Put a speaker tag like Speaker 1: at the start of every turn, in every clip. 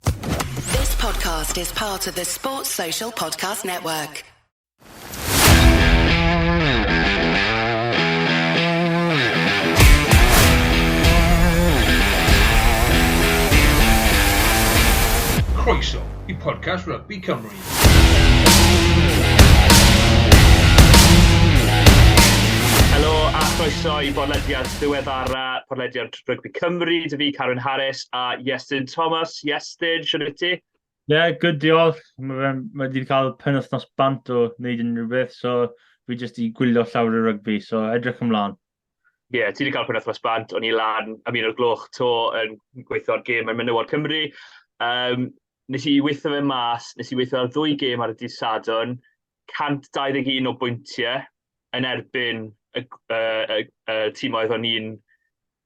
Speaker 1: This podcast is part of the Sports Social Podcast Network.
Speaker 2: Croeso i podcast Rugby Cymru.
Speaker 3: Helo a chroeso i bodlediad ddiweddara, podlediad Rygbi Cymru, dy fi Carwyn Harris a Iestyn Thomas. Iestyn, siwr i ti? Ie, yeah, good diolch.
Speaker 4: Mae ma wedi cael pen wythnos bant o wneud unrhyw beth, so fi jyst i gwylio llawr y rygbi, so edrych ymlaen. Ie, yeah, ti wedi
Speaker 3: cael pen wythnos bant, o'n i lan am un o'r gloch to yn gweithio ar gêm yn Menywod Cymru. Um, nes i weithio fe mas, nes i weithio ar ddwy gêm ar y dydd Sadwn, 121 o bwyntiau yn erbyn y y y timoedd o'n i'n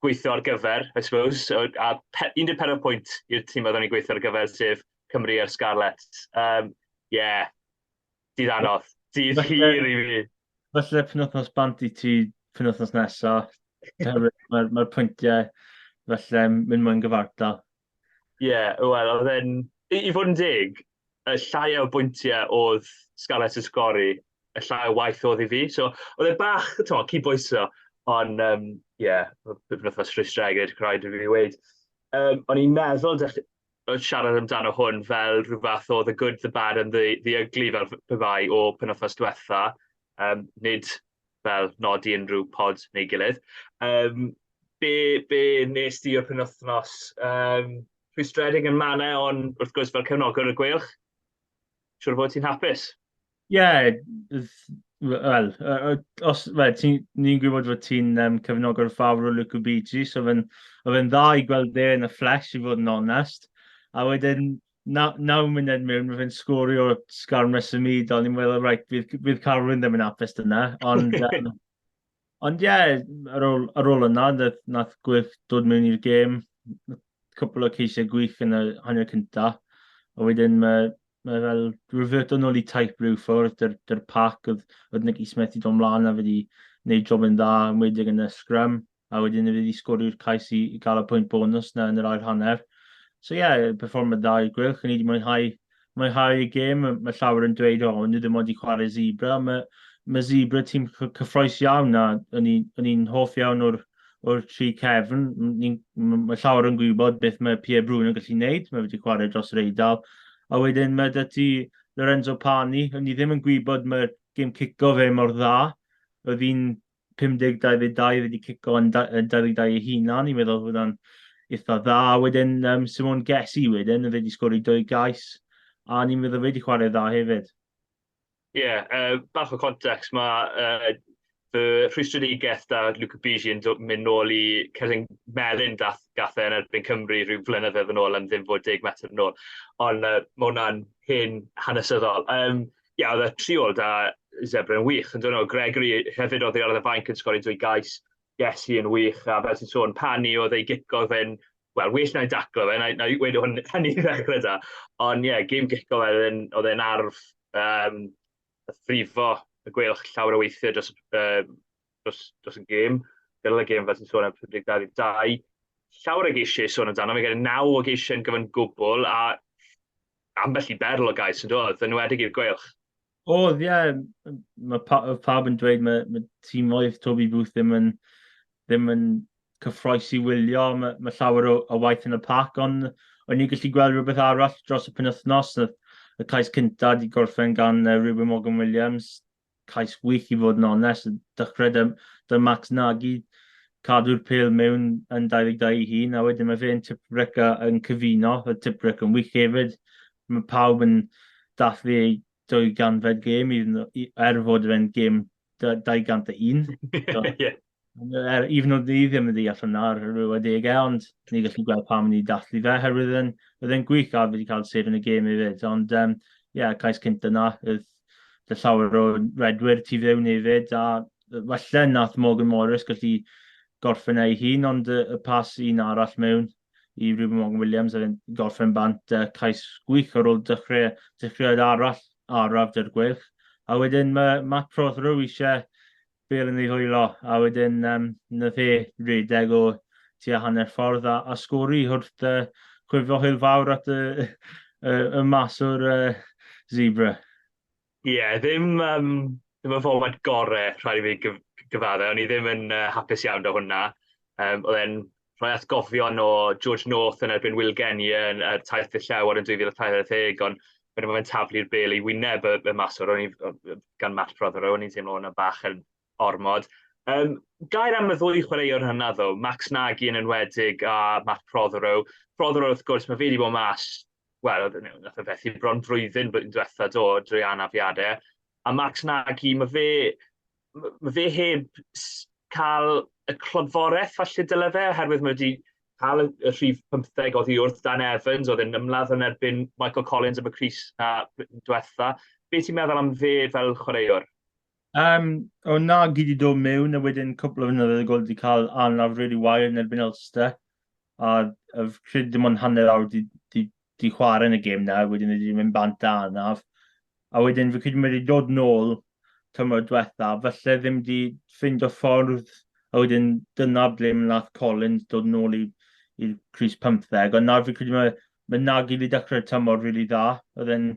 Speaker 3: gweithio ar gyfer, I suppose, so a pe- 14 pwynt i'r timoedd o'n i'n gweithio ar gyfer, sef Cymru a'r Scarlets. Yym ie, dydd anodd, dydd hir i fi! Falle penwythnos
Speaker 4: bant i ti penwythnos nesa, oherwydd mae'r pwyntiau falle'n mynd mwy'n gyfartal. Ie,
Speaker 3: wel, oedd e'n... I i fod yn deg, y llai o bwyntiau oedd Scarlets yn sgori, y llai o waith oedd i fi. So, oedd e bach, timod, cydbwyso. Ond, yym, ie, p- penwythnos rhwystredig, rhaid i fi weud. Yym, o'n i'n meddwl dech- yy siarad amdano hwn fel rhyw fath o the good, the bad and the the ugly fel p- pe bai o penwythnos diwetha. Yym, nid fel nodi unrhyw pod neu gilydd. Um, be, be nes di o'r penwthnos? Um, rhwystredig yn manau, ond wrth gwrs fel cefnogwr y gweilch, siwr fod ti'n hapus. Ie, yeah, wel,
Speaker 4: os ni'n gwybod fod ti'n um, cefnogwr fawr o Luca Bigi, so fe'n fe dda i gweld e yn y fflesh i fod yn onest. A wedyn, na, naw munud mewn, mae fe'n sgorio sgar mes y myd, ond i'n meddwl, rhaid, bydd, bydd Carwyn ddim yn apus dyna. Ond, um, ond ie, yeah, ar, ôl, ar ôl yna, nath, nath Gwyff dod mewn i'r gêm, cwpl o ceisiau gwych yn y hanner cyntaf, a wedyn mae, mae fel reverto nôl i taip rhyw ffwrdd, dy'r, dyr pac oedd, oedd Nicky Smith i dod mlaen a wedi gwneud job yn dda, yn wedig yn y sgrym. a wedyn y fydd i sgoriwr cais i, i gael y pwynt bonus na yn yr ail hanner. So ie, yeah, performad dda i'r gwylch, ni wedi mwynhau, mwynhau y gêm, mae llawer yn dweud, o, oh, nhw ddim wedi chwarae zebra, mae, mae zebra tîm cyffroes iawn na, o'n i'n hoff iawn o'r, o'r tri cefn, mae llawer yn gwybod beth mae Pierre Brun yn gallu gwneud, mae wedi chwarae dros yr eidl, a wedyn mae dy ti Lorenzo Pani, o'n i ddim yn gwybod mae'r gêm cico fe mor dda, oedd hi'n 50, 22 wedi cico yn 22 ei hunan, i'n meddwl bod hwnna'n eitha dda. Wedyn, um, Simon Gessi wedyn, fe wedi sgori dwy gais, a ni'n meddwl fe wedi chwarae dda hefyd. Ie, yeah, uh,
Speaker 3: bach o context, mae uh, fy rhwystredigaeth da Luca Bigi yn mynd nôl i Cerdyn Melin dath gathau yn erbyn Cymru rhyw flynyddoedd yn ôl am ddim fod deg metr yn ôl. Ond uh, mae hwnna'n hen hanesyddol. Um, Ia, oedd y triol da Zebre yn wych. Yn dynol, Gregory hefyd oedd ei ar y fainc yn sgori dwy gais. Yes, hi yn wych. A fel ti'n sôn, pan i oedd ei gico fe'n... Wel, well na'i daclo fe, na'i na wedi hwn yn ei ddechrau da. Ond ie, yeah, gym gico fe oedd e'n arf um, y ffrifo y gwelwch llawer o weithiau dros, uh, dros, dros y gêm. Gyrraedd y gêm fel ti'n sôn am 52. Llawer o geisiau sôn amdano, fe gen i naw o geisiau yn gyfan gwbl, a Ambell i berl o gais yn dod, yn wedig i'r Gweilch. Oedd, ie.
Speaker 4: Mae pa, pawb yn dweud mae, mae tîmoedd Toby Booth ddim yn, ddim yn cyffroes i wylio. Mae, mae llawer o, o waith yn y pac, ond o'n ni'n gallu gweld rhywbeth arall dros y penwythnos. Y cais cyntaf wedi gorffen gan uh, Ruben Morgan Williams, cais gwych i fod yn onest. Dechrau 'da, 'da Max Nagy, cadw'r pel mewn yn 22 ei hun, a wedyn mae fe yn Tipwreck a yn cyfuno, y Tipwreck yn wych hefyd. Mae pawb yn dathlu ei dwy ganfed gêm, i, i, er fod fe'n gêm 201. Ie. er, even though ni ddim yn ddeall hwnna ar yr adegau, ond ni gallu gweld pam ni dathlu fe, herwydd yn, oedd e'n gwych a fi wedi cael sef yn y gêm i fyd, ond ie, um, yeah, cais cynt yna, oedd dy llawer o redwyr tu fewn i fyd, a falle nath Morgan Morris gallu gorffen ei hun, ond y, y pas un arall mewn i Ruben Morgan Williams a fe'n gorffen bant uh, cais gwych ar ôl dechrau, dechreuad arall araf dy'r gweilch. A wedyn mae Matt Prothero eisiau bêl yn ei hwylo, a wedyn um, na fe redeg o tua hanner ffordd a, a sgori wrth uh, chwifio hwyl fawr at y, y, y mas o'r uh, zebra. Ie,
Speaker 3: yeah, ddim, um, ddim yn fformat gorau rhaid i fi gyf gyfaddau, o'n i ddim yn uh, hapus iawn da hwnna. Um, oedd e'n rhoi atgofion o George North yn erbyn Will Genie yn er taith y llew ar yn 2040, ond wedyn mae fe'n taflu'r bel i wyneb y, y maswr, o'n i, gan Matt Prothero, o'n i'n teimlo hwnna bach yn ormod. Um, gair am y ddwy chwaraewr hynna ddo, Max Nagy yn enwedig a Matt Prothero. Prothero wrth gwrs, mae fe wedi bod mas, wel, nath o fethu bron drwyddyn blwyddyn diwetha do, drwy anafiadau. A Max Nagy, mae fe, mae fe heb cael y clodforeth falle dyle fe, oherwydd mae wedi cael y, y rhif 15 oddi wrth Dan Evans, oedd yn ymladd yn erbyn Michael Collins am y Cris na diwetha. Be ti'n meddwl am fe fel chwaraewr? Um,
Speaker 4: o na, gyd i dod mewn, a wedyn cwpl o fynyddoedd y gol wedi cael anlawr really wael yn erbyn Ulster. a oedd cred dim ond hanner awr di, di, di chwarae yn y gêm na, wedyn wedi mynd bant da anaf. A wedyn fi credu mae wedi dod nôl tymor diwetha, felly ddim wedi ffind o ffordd, a wedyn dyna ble mae nath Collins dod nôl i'r Cris 15, ond nawr fi credu mae, mae Nagy wedi dechrau'r tymor rili really dda, oedd e'n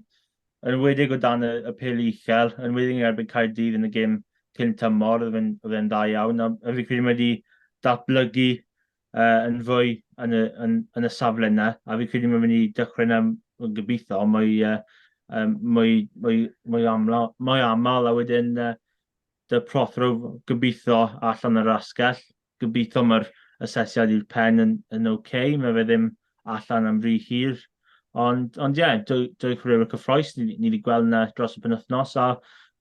Speaker 4: yn wedig o dan y, y pel uchel, yn wedig yn erbyn Caerdydd yn y gêm cyn tymor, oedd e'n dda iawn, a, a fi credu mae wedi datblygu uh, yn fwy yn y, yn, yn y safle yna, a fi'n credu mae'n mynd i dechrau yna yn gobeithio, ond mae uh, um, mwy, mwy, mwy, amla, mwy aml, a wedyn uh, dy prothro gobeithio allan yr asgell. Gobeithio mae'r asesiad i'r pen yn, yn oce, okay. mae fe ddim allan am rhy hir. Ond, ond ie, yeah, dwy, dwy chwaraewr cyffroes, ni, ni wedi gweld yna dros y penwthnos, a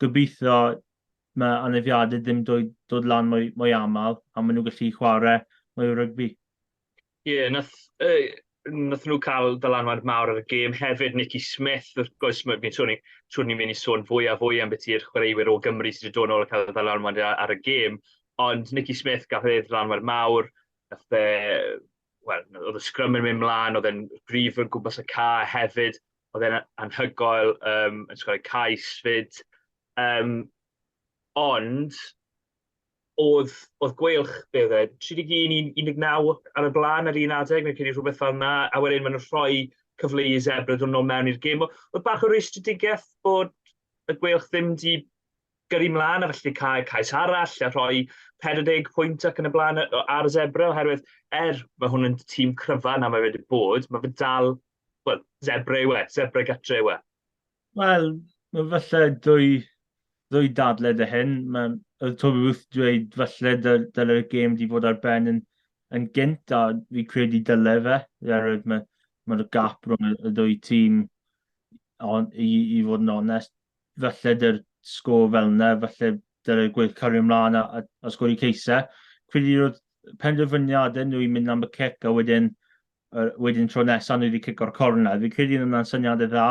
Speaker 4: gobeithio mae anafiadau ddim dod, dod lan mwy, mwy aml a maen nhw'n gallu chwarae mwy o rygbi. Ie, yeah, nath, uh,
Speaker 3: nath nhw cael dylanwad mawr ar y gêm hefyd, Nicky Smith, wrth gwrs, mae fi'n siŵr siwr ni'n mynd i sôn fwy a fwy am beth i'r chwaraewyr o Gymru sydd wedi dod nôl a cael dylanwad ar y gêm, ond Nicky Smith gath ei ddylanwad mawr, nath e, wel, oedd y sgrym yn mynd mlaen, oedd e'n grif yn gwmpas y ca hefyd, oedd e'n anhygoel, um, yn sgorau cais fyd, Yym, ond, oedd, oedd gweilch, be oedd e, 31 i 19 ar y blaen ar un adeg, fi'n credu rhywbeth fel 'na, a wedyn maen nhw'n rhoi cyfle i Zebre dod nôl mewn i'r gêm. O- Oedd bach o rwystredigaeth bod y gweilch ddim 'di gyrru mlaen a felly 'di cael cais arall a rhoi 40 pwynt ac yn y blaen yy ar Zebre oherwydd er mae hwn yn tîm cryfa na mae wedi bod, mae fe dal, wel, Zebre yw e, Zebre gatre yw e. Wel,
Speaker 4: falle dwy ddwy dadle 'da hyn. Ma'... Oedd Toby Booth 'di dweud falle dyl- dyle'r gêm 'di fod ar ben yn yn gynt, a fi'n credu dyle fe, oherwydd ma' ma'r gap rhwng y y ddwy tîm, ond i i fod yn onest, falle 'da'r sgôr fel 'na, falle dyle Gwyl cario mlan a a a sgori cais e. Credu roedd penderfyniadau nhw i mynd am y cic a wedyn uh, wedyn tro nesaf nhw wedi cico'r cornel. Fi'n credu yn hwnna'n syniad e dda,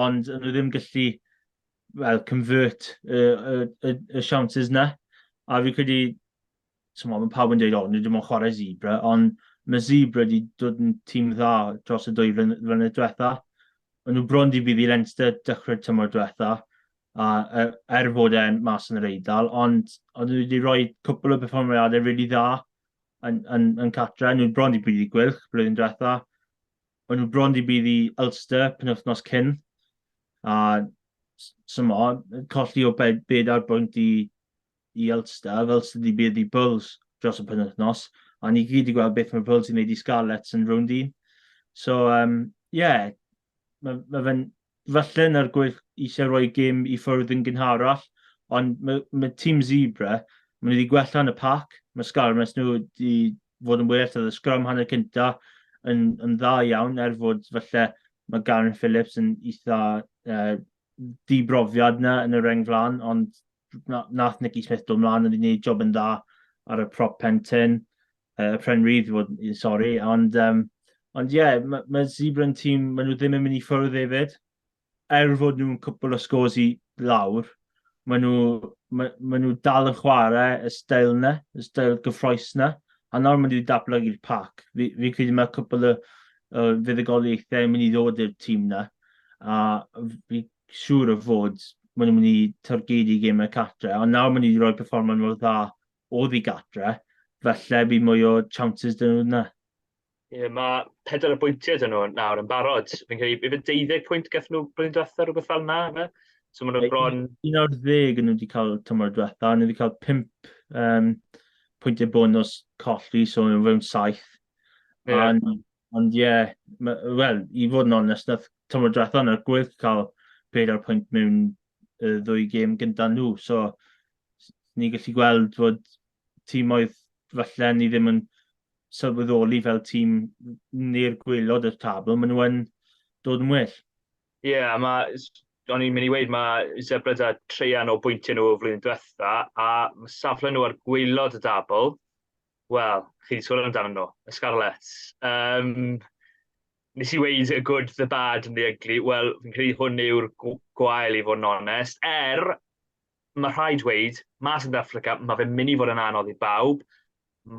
Speaker 4: ond nhw ddim gallu well, convert y, y, y, y siawnsys na. A fi'n credu, tyma, mae pawb yn dweud, o, nhw ddim yn chwarae zebra, ond mae Zebra wedi dod yn tîm dda dros y dwy flynedd diwetha. O'n nhw bron di bydd i Leinster dechrau'r tymor diwetha, a er, er fod e'n mas yn yr eidl, ond o'n nhw wedi rhoi cwpl o berfformiadau rili really dda yn, yn, yn Catra, nhw'n bron i byd i gwylch blwyddyn diwetha. O'n nhw'n bron i byd i Ulster penwthnos cyn. A symo, colli o bed, bed ar bwynt i, i Ulster, fel sydd wedi byd i Bulls dros y penwthnos. A ni gyd i gweld beth mae Bulls yn gwneud i Scarlets yn rownd un. So, ie, um, yeah, mae, mae fe'n falle yn yr gwyll eisiau rhoi gym i ffwrdd yn gynharach, ond mae, mae tîm Zebra, maen nhw wedi gwella yn y pac, mae Scarmes nhw wedi fod yn well, oedd y sgrym hanner cynta yn, yn dda iawn, er fod falle mae Garen Phillips yn eitha uh, dibrofiad na yn y reng flan, ond nath Nicky Smith dod mlaen yn gwneud job yn dda ar y prop pentyn, uh, Pren Reeve i fod yn sori, ond um, ond ie, yeah, mae ma Zebra yn tîm, maen nhw ddim yn mynd i ffwrdd hefyd, er fod nhw'n cwpl o scores i lawr, maen nhw, ma, ma nhw dal yn chwarae y stael yna, y stael gyffroes yna, a nawr maen nhw wedi datblygu'r pac. Fi, fi credu mae cwpl o, o fuddugoliaethau yn mynd i ddod i'r tîm yna, a fi, siŵr o fod maen nhw'n mynd i targedu gemau cartre, ond nawr maen nhw wedi rhoi perfformon mor dda oddi gartre, falle bydd mwy o chances dyn nhw yna. Ie, mae pedwar
Speaker 3: o bwyntiau dyn nhw nawr yn barod. Fi'n credu, ife 12 pwynt gath nhw blwyddyn diwetha, rhywbeth fel yna, fe? So maen nhw bron... 11 nhw
Speaker 4: wedi cael tymor diwetha, nhw wedi cael 5 um, pwyntiau bonus colli, so nhw fewn 7. Yeah. A
Speaker 3: Ond ie,
Speaker 4: wel, i fod yn onest, wnaeth tymor diwethaf yna'r Gwyl cael pedair pwynt mewn y ddwy gêm gyda nhw. So, ni'n gallu gweld bod tîmoedd falle ni ddim yn sylweddoli fel tîm neu'r gwylod y tabl, maen nhw yn dod yn well. Ie, yeah, mae,
Speaker 3: o'n i'n mynd i weid, mae Zebreds a treian o bwyntiau nhw o flwyddyn diwetha, a safle nhw ar gwylod y dabl, Wel, chi 'di sôn amdano nhw, y Scarlets. Um, nes i weud y good, the bad and the ugly. Wel, fi'n credu hwn yw'r gwael i fod yn onest. Er, mae rhaid dweud, mas yn Dafrica, mae fe'n mynd i fod yn anodd i bawb.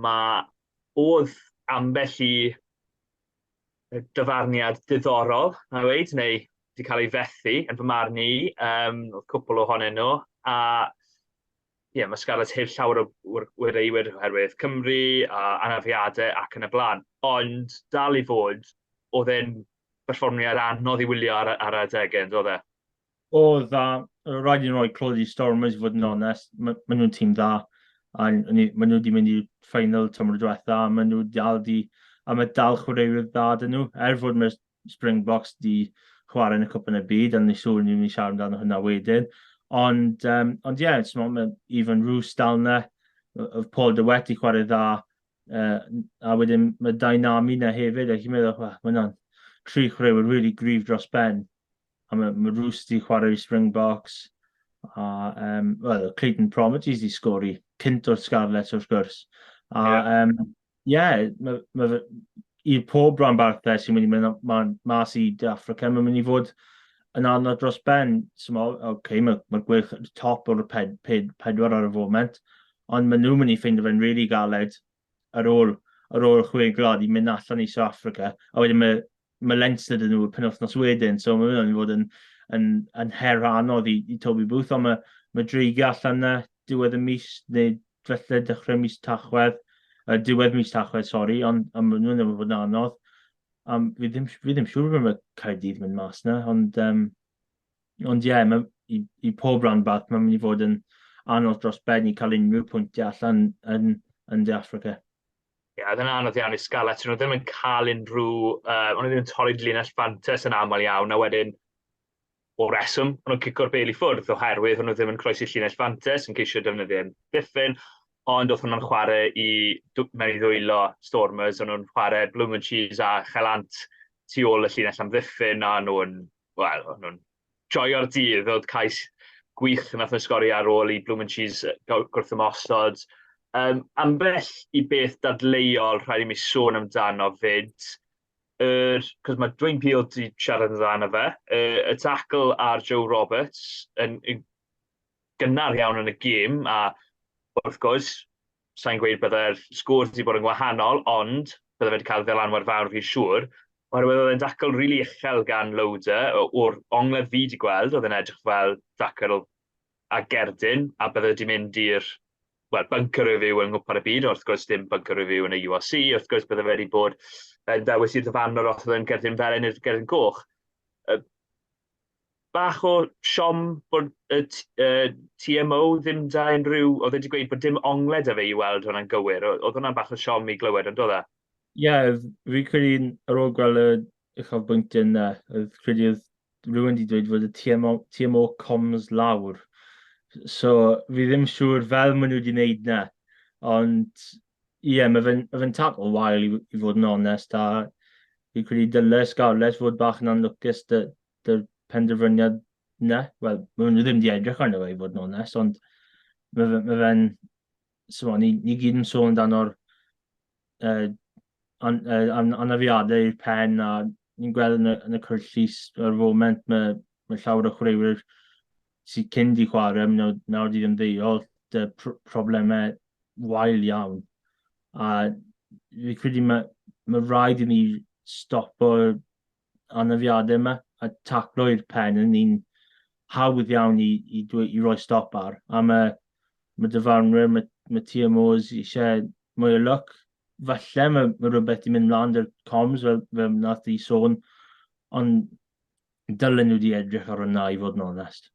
Speaker 3: Mae oedd ambell i dyfarniad diddorol, na weid, neu wedi cael ei fethu, yn fy marn i, um, oedd cwpl ohonyn nhw, a ie, mae Scarlets heb llawer o wreiwyr oherwydd Cymru a anafiadau ac yn y blaen. Ond dal i fod, oedd e'n berfformiad anodd i wylio ar, ar adegau, yn dod e? Oedd, a
Speaker 4: rhaid i'n rhoi clod i Stormers i fod yn onest. Maen ma nhw'n tîm dda, a maen nhw wedi mynd i'r ffeinal tymor diwetha, a maen nhw dal di, a mae dal chwaraewyr dda dyn nhw, er fod mae'r Springboks 'di chwarae yn y Cwpan y Byd, ond ni siŵr ni'n mynd i siarad amdano hwnna wedyn. Ond, um, ond ie, yeah, mae Ifan Rhys dal na, oedd Paul de Wet i chwarae dda, uh, a wedyn mae Dynami na hefyd, a chi'n meddwl, mae hwnna'n tri chwaraewyr really grif dros ben. a mae ma Rhys wedi chwarae i Springboks, a um, well, Clayton Promities wedi sgor i cynt o'r Scarlets wrth gwrs. A yeah. um, yeah, mae ma, i pob rhan barthau sy'n mynd i mynd ma, mas i De Africa, mae'n mynd i fod yn anodd dros ben. So, ma, okay, mae ma gwych top o'r ped, ped, pedwar ar y foment, ond maen nhw'n mynd i ffeindio fe'n rili really galed ar ôl, ar ôl y chwe gwlad i mynd allan i South Africa, a wedyn mae, mae Leinster dyn nhw y penwythnos wedyn, so mae hwnna'n mynd i fod yn, yn, yn her anodd i, i Toby Booth, ond mae, mae dreigiau allan na diwedd y mis, neu felly dechrau mis Tachwedd, uh, diwedd mis Tachwedd, sori, ond am maen nhw'n ddim fod yn anodd. Um, fi, ddim, fi ddim siŵr beth mae Caerdydd mynd mas na, ond um, Ond ie, yeah, i, i pob rhan bach, mae'n mynd i fod yn anodd dros ben i cael unrhyw pwyntiau allan yn, yn De Africa. Ie, yeah, dyna
Speaker 3: anodd iawn i Scarlets. Nhw ddim yn cael unrhyw... Uh, ond ddim yn torri linell fantes yn aml iawn, a wedyn o reswm, ond nhw'n cico'r bel i ffwrdd oherwydd nhw ddim yn croesi llinell fantes yn ceisio defnyddio ddiffyn, ond oedd hwnna'n chwarae i mewn i ddwylo Stormers, ond nhw'n chwarae Bloom and Cheese a Chelant tu ôl y llinell am ddiffyn, a nhw'n wel, o'n nhw'n joio'r dydd, oedd cais gwych yn atho sgori ar ôl i Bloom and Cheese gwrthymosod. Um, ambell i beth dadleuol rhaid i mi sôn amdano fyd, er, cos mae Dwayne Peel wedi siarad amdano fe, er, y tackle ar Joe Roberts yn, yn gynnar iawn yn y gêm, a wrth gwrs, sa i'n gweud byddai'r sgôr wedi bod yn wahanol, ond bydde fe 'di cael ddylanwad fawr fi'n siŵr, oherwydd oedd e'n dacl rili uchel gan Loader, o'r ongledd fi 'di gweld oedd e'n edrych fel dacl a gerdyn, a bydde wedi mynd i'r wel, bunker review yng Nghwpan y Byd, wrth gwrs dim bunker review yn y URC, wrth gwrs bydde fe wedi bod yn ddewis i'r ddyfarnwr os oedd e'n gerdyn felen neu'r gerdyn goch. bach o siom bod y TMO ddim 'da unrhyw... oedd e 'di gweud bod dim ongled 'da fe i weld hwnna'n gywir, oedd hwnna'n bach o siom i glywed yn doedd e? Ie,
Speaker 4: fi'n credu ar ôl gweld y uchafbwyntiau 'na, oedd credu oedd rhywun 'di dweud fod y TMO TMO comms lawr. So fi ddim siŵr fel maen nhw 'di wneud 'na, ond Ie, yeah, mae fe'n fe tad o wael i, i fod yn onest, a fi'n credu dylai Scarlett fod bach yn anlwcus dy'r dy penderfyniad na. Wel, mae nhw ddim wedi edrych arno fe i fod yn onest, ond mae fe'n... Mae fe so, ni, ni gyd yn sôn amdano'r uh, an, uh, an, anafiadau i'r pen a ni'n gweld yn y, yn y cwrt llys ar y foment, mae, mae llawer o chwaraewyr sydd cyn di chwarae, nawr, nawr di ddim ddeiol, dy pr problemau wael iawn. A fi credu mae, mae rhaid i ni stopo anafiadau yma a taclo i'r pen yn un hawdd iawn i, i, dweud, i roi stop ar. A mae, mae dyfarnwyr, mae, mae TMOs eisiau mwy o lwc, falle mae, mae rhywbeth di mynd mlaen dy'r coms fel, fel nath di sôn, ond dylen nhw di edrych ar hwnna i fod yn onest.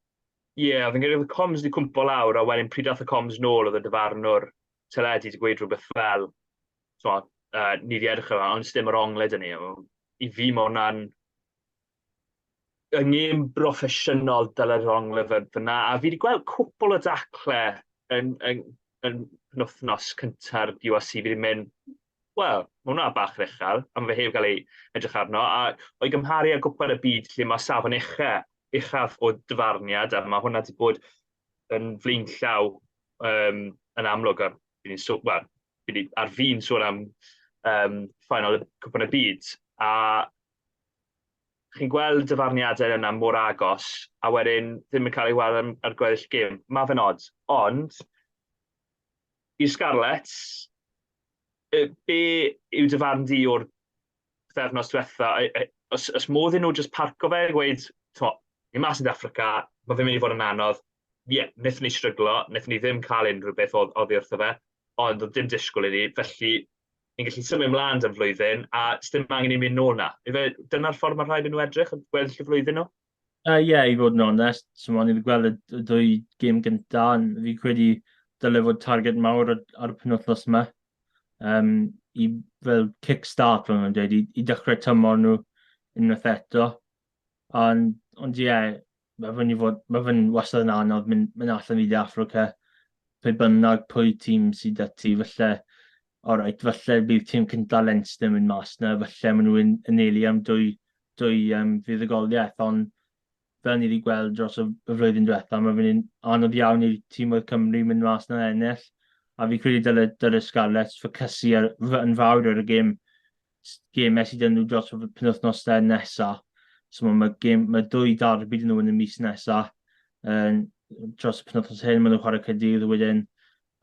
Speaker 4: Ie, yeah, fi'n credu
Speaker 3: oedd y coms di cwmpo lawr, a wedyn pryd ath y coms nôl oedd y dyfarnwr teledu di gweud rhywbeth fel, so, uh, ni di edrych ar hwnna, ond dim yr ongled yn ni. I fi mae hwnna'n yng ngêm broffesiynol Dylan Long Lyfr fyna, a fi wedi gweld cwpl o dacle yn, yn, yn penwthnos cynta'r URC, fi wedi mynd, wel, mae hwnna bach yn uchel, a mae fe heb gael ei edrych arno, a o'i gymharu â gwpl y byd lle mae safon ucha, uchaf o dyfarniad, a mae hwnna wedi bod yn flaen llaw um, yn amlwg, a fi wedi sôn, wel, fi wedi ar fi'n sôn am um, ffaenol y cwpl y byd, a chi'n gweld y dyfarniadau yna mor agos, a wedyn ddim yn cael ei weld ar, ar gweddill gêm. Mae fe'n od. Ond, i'r Scarlets, be yw dyfarn di o'r pethefnos diwetha? Os, os modd i nhw jyst parco fe, gweud, to, ni mas yn Africa, mae fe'n mynd i fod yn anodd. Ie, yeah, wnaethon ni stryglo, wnaethon ni ddim cael unrhyw beth oedd oddi wrtho fe, ond oedd dim disgwyl i ni, felly ni'n gallu symud mlaen dan flwyddyn a ddim angen i mi nôl na. Ife, dyna'r ffordd mae rhaid i nhw edrych, yn gweddill y flwyddyn nhw? Ie, uh, yeah, i fod
Speaker 4: yn onest, so ma'n i'n gweld y dwy gêm gyntaf, fi credu dylai fod target mawr ar y penwthnos yma. Um, I fel kick-start, fel nhw'n dweud, i, i dechrau tymor nhw unwaith eto. Ond, ond ie, yeah, Mae fe'n i fod... mae fe'n wastad yn anodd mynd mynd allan i De Affrica, pe bynnag pwy tîm sy 'da ti. Falle, oreit, falle bydd tîm cynta Leinster yn mynd mas 'na, falle maen nhw'n anelu am dwy dwy yym fuddugoliaeth, ond fel ni wedi gweld dros y y flwyddyn diwetha, mae fe'n un anodd iawn i tîmoedd Cymru mynd mas 'na'n ennill, a fi'n credu dyle dyle Scarlets ffocysu ar f- yn fawr ar y gêm gêmau sydd yn nhw dros y penwythnosau nesaf. So mae, mae, gêm, mae dwy darbi dyn nhw yn y mis nesaf. Um, dros y penwythnos hyn, maen nhw'n chwarae Cydydd, wedyn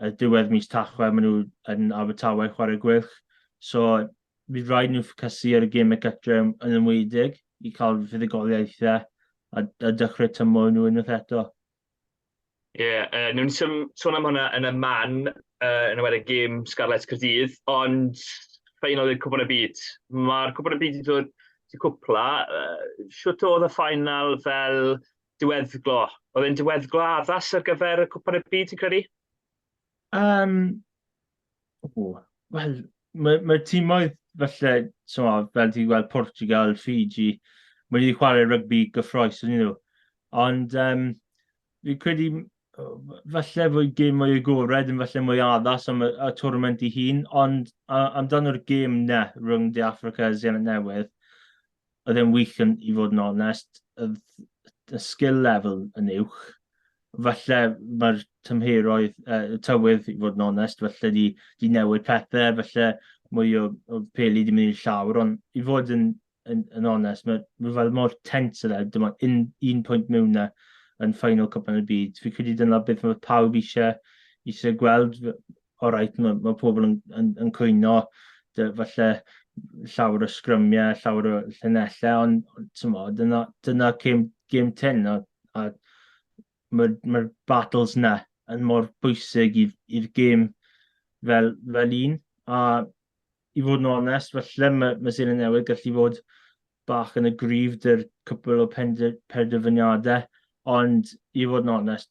Speaker 4: y diwedd mis Tachwe, maen nhw yn Abertawe chwarae Gwylch. So bydd rhaid nhw ffocysu ar y gêmau gytre yn ymwydig i cael fuddugoliaethau a, a dechrau tymor nhw unwaith eto. Ie,
Speaker 3: yy newn ni sym- sôn am hwnna yn y man, yy yn enwedig gêm Scarlets Caerdydd, ond ffeinal i'r Cwpan y Byd. Ma'r Cwpan y Byd 'di dod i cwpla, yy shwt o'dd y ffeinal fel diweddglo? O'dd e'n diweddglo addas ar gyfer y Cwpan y Byd ti'n credu? Yym,
Speaker 4: o, wel, ma' ma'r timoedd falle, timod, fel ti'n gweld Portugal, Fiji, ma' nhw wedi chwarae rygbi gyffrous ynddyn nhw. Ond yym, fi'n credu m- o, f- falle fod gêm mwy agored yn falle mwy addas am y y twrnament ei hun, ond a- amdano'r gêm 'na rhwng De Affrica a Seland Newydd, oedd e'n wych yn, i fod yn onest, y skill level yn uwch. Falle mae'r tymheroedd, uh, tywydd, i fod yn onest, falle di, di newid pethau, falle mwy o, o peli di mynd i'r llawr, ond i fod yn, yn, yn onest, mae ma fel mor tens yna, e, dyma un, un pwynt mewn na yn ffainol cwpan y byd. Fi credu dyna beth mae pawb eisiau, eisiau gweld o reit, mae, mae pobl yn, yn, yn cwyno, falle llawer o sgrymiau, llawer o llunellau, ond tymo, dyna, dyna cym, gym ten, a, a mae'r ma battles na yn mor bwysig i'r gym fel, fel un, a i fod yn onest, falle mae, mae Sir y Newydd gallu fod bach yn y grif dy'r cwpl o penderfyniadau, ond i fod yn onest,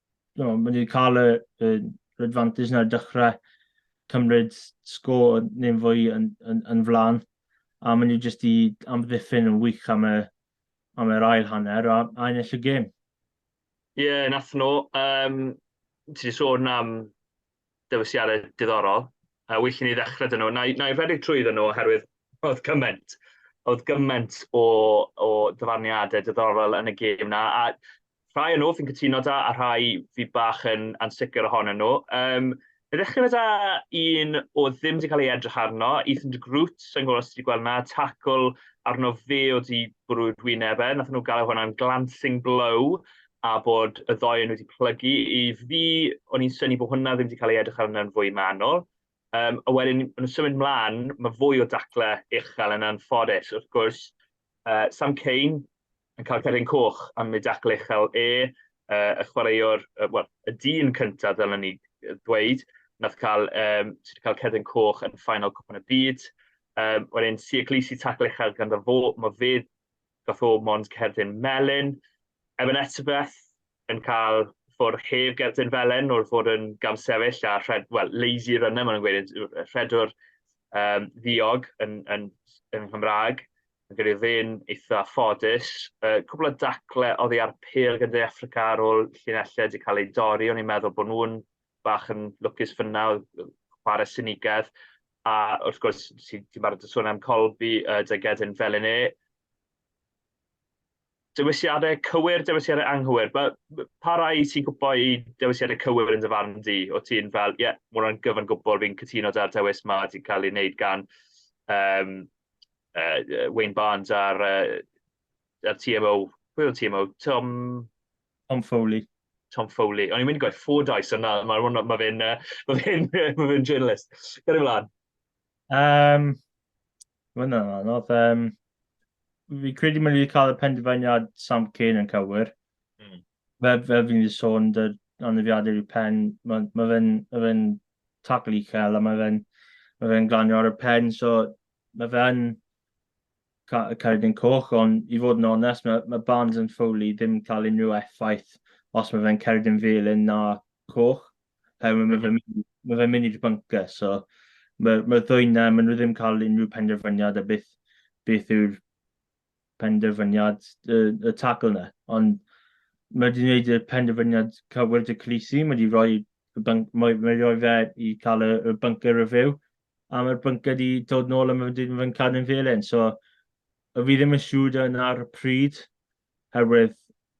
Speaker 4: no, mae wedi cael y, y advantage na'r dechrau cymryd sgôr neu'n fwy yn, yn, yn flan. A mae nhw jyst i amddiffyn yn wych am y, am yr ail hanner a, a ennill y gêm. Ie, yeah,
Speaker 3: nath nhw. Um, ti wedi sôn am dewisiadau diddorol, a well i ni ddechrau dyn nhw. Na i, na i redeg trwy ddyn nhw oherwydd oedd gymaint, oedd gymaint o, o dyfarniadau diddorol yn y gêm na, a rhai o nhw fi'n cytuno da, a rhai fi bach yn ansicr ohonyn nhw. Um, Fe ddechrau fe da un o ddim wedi cael ei edrych arno, Ethan de Groot, sy'n gwybod os wedi gweld na, tacl arno fe o di bwrwyd wyneb e, nath nhw gael e hwnna'n glancing blow, a bod y ddou yn wedi plygu. I fi, o'n i'n syni bod hwnna ddim wedi cael ei edrych arno'n fwy manwl. Um, a wedyn, yn symud mlaen, mae fwy o dacle uchel yn anffodus. Wrth gwrs, uh, Sam Cain yn cael cerdyn coch am ei dacle uchel e, uh, y chwaraewr, uh, well, y dyn cyntaf, fel ni ddweud, nath cael, um, sydd wedi cael cerdyn coch yn ffainal cwpan y byd. Um, wedyn, Sia Glisi tacle uchel gan fo, mae fe Gath o mond cerdyn melyn. Evan Etzebeth yn cael ffwrdd heb gerdyn felen wrth fod yn gamsefyll a rhed, well, lazy runner, maen nhw'n gweud, rhedwr um, ddiog yn, yn, yn Nghymraeg. Yn gyda ddyn eitha ffodus. Uh, cwbl o dacle oddi ar pêl gyda Africa ar ôl llunellau wedi cael ei dorri. O'n i'n meddwl bod nhw'n bach yn lwcus fyna, chwarae sinigedd, a wrth gwrs, ti'n barod y sôn am Colby, uh, dy gedyn fel yn e. Dewisiadau cywir, dewisiadau anghywir. Pa, pa rai ti'n gwybod i dewisiadau cywir yn dyfarn di? O ti'n fel, ie, yeah, mae hwnna'n gyfan gwbl, fi'n cytuno da'r dewis ma, ti'n cael ei wneud gan um, uh, Wayne Barnes a'r, uh, ar TMO, pwy o'n TMO? Tom...
Speaker 4: Tom Foley. Tom Foley. O'n
Speaker 3: i'n mynd i gwaith Fordyce, ond na, mae hwnna, mae fe'n, mae fe'n, mae fe'n journalist. Gyrru mlaen. Um, mae
Speaker 4: hwnna'n anodd. Um, fi credu mae'n wedi cael y penderfyniad Sam Kane yn cywir. Mm. Fel, fel fi'n wedi sôn, dy anafiadau i'w pen, mae ma fe'n ma fe tacl uchel a mae fe'n ma fe glanio ar y pen, so mae fe'n Cerdyn Coch, ond i fod yn onest, mae, mae Barnes and Foley ddim yn cael unrhyw effaith os mae fe'n cerdyn felyn na coch, herwydd mae fe'n mynd, mae fe'n mynd i'r bunker, so mae'r mae ddwy na, maen nhw ddim yn cael unrhyw penderfyniad a beth, beth yw'r penderfyniad y, y tackle na. Ond mae wedi gwneud y penderfyniad cywir dy Clisi, mae wedi rhoi, y bunk, mae, mae wedi rhoi fe i cael y, y bunker review, a mae'r byncau wedi dod nôl a mae wedi fy cadw'n felen. So, y fi ddim yn siŵr yn ar y pryd, herwydd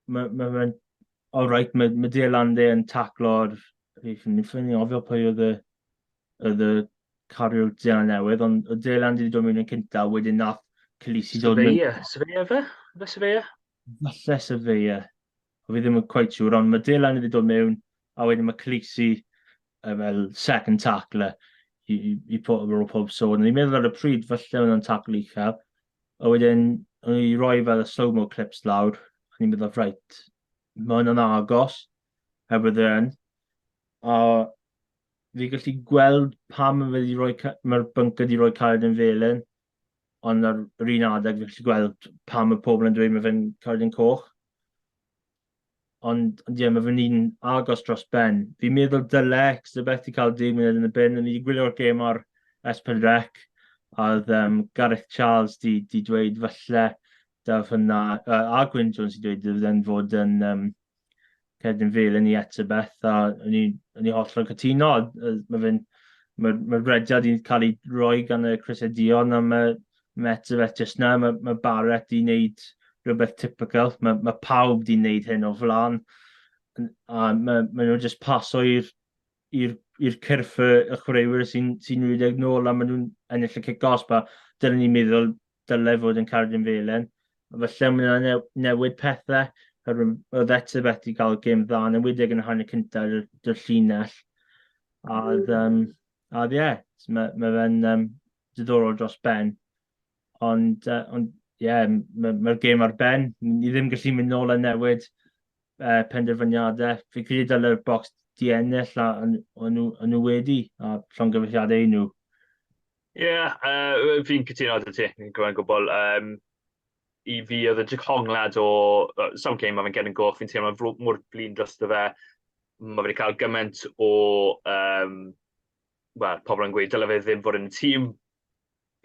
Speaker 4: mae'n ma, ma all right, mae, ma Dale Lande yn taclo'r... Fi'n ffynnu ofio pwy oedd y, oedd y cariwr Dale newydd, ond oedd Dale Lande wedi dod mewn yn cynta, wedyn nath Cylisi dod mewn. Sefeia, Sefeia fe?
Speaker 3: Fe Sefeia? Falle
Speaker 4: Sefeia. fi ddim yn cweit siŵr, ond mae Dylan wedi dod mewn, a wedyn mae Khaleesi uh, fel second tackler i, i, i pob, rôl pob sôn. Ni'n meddwl ar y pryd, falle oedd o'n tackle uchel, a wedyn o'n i roi fel y slow-mo clips lawr, a ni'n meddwl, rhaid, mae hwnna'n agos, heb y ddyn. A fi gallu gweld pam mae wedi rhoi, mae'r bync wedi rhoi caled yn felyn, ond ar yr un adeg fi'n gallu gweld pam mae pobl yn dweud mae fe'n cardyn coch. Ond, ond ie, mae fe'n un agos dros ben. Fi'n meddwl dyle Exeter beth i cael deg munud yn y bin. O'n i wedi gwylio'r gêm ar Espen Rec, a oedd um, Gareth Charles di, di dweud falle daf hynna, uh, a Gwyn Jones i dweud, dweud yn fod yn um, cerdyn fel yn ni eto beth, a o'n i, o'n i hollol cytuno. Mae fe'n, mae, mae rediad i'n cael ei roi gan y Chris Edion am y Mets beth jyst na, mae, mae Barrett i wneud rhywbeth typical, mae, mae pawb di wneud hyn o flan, a mae, mae nhw jyst paso i'r i'r i'r cyrff y, y chwaraewyr sy'n sy rhedeg nôl a maen nhw'n ennill y cic os ba, dylen ni'n meddwl dylai fod yn Carden Felen. Felly mae yna new, newid pethau, hyrwyd oedd Etzer beth i gael gêm dda, yn ymwedig yn y hanner cyntaf yr, yr llinell. A, um, a ie, yeah, mae, mae fe'n um, diddorol dros ben. Ond, uh, ond yeah, mae'r ma gêm ar ben. Ni ddim gallu mynd nôl a newid uh, penderfyniadau. Fi credu dylai'r bocs di ennill a o'n nhw wedi a llongyfeilliadau nhw. Ie, yeah,
Speaker 3: uh, fi'n cytuno â ti, fi'n gwybod gwbl. Um, I fi oedd y diconglad o uh, some game mae'n gen yn goch, fi'n teimlo mor blin dros dy fe. Mae wedi cael gymaint o, um, well, pobl yn gweud, dylai fe ddim fod yn y tîm,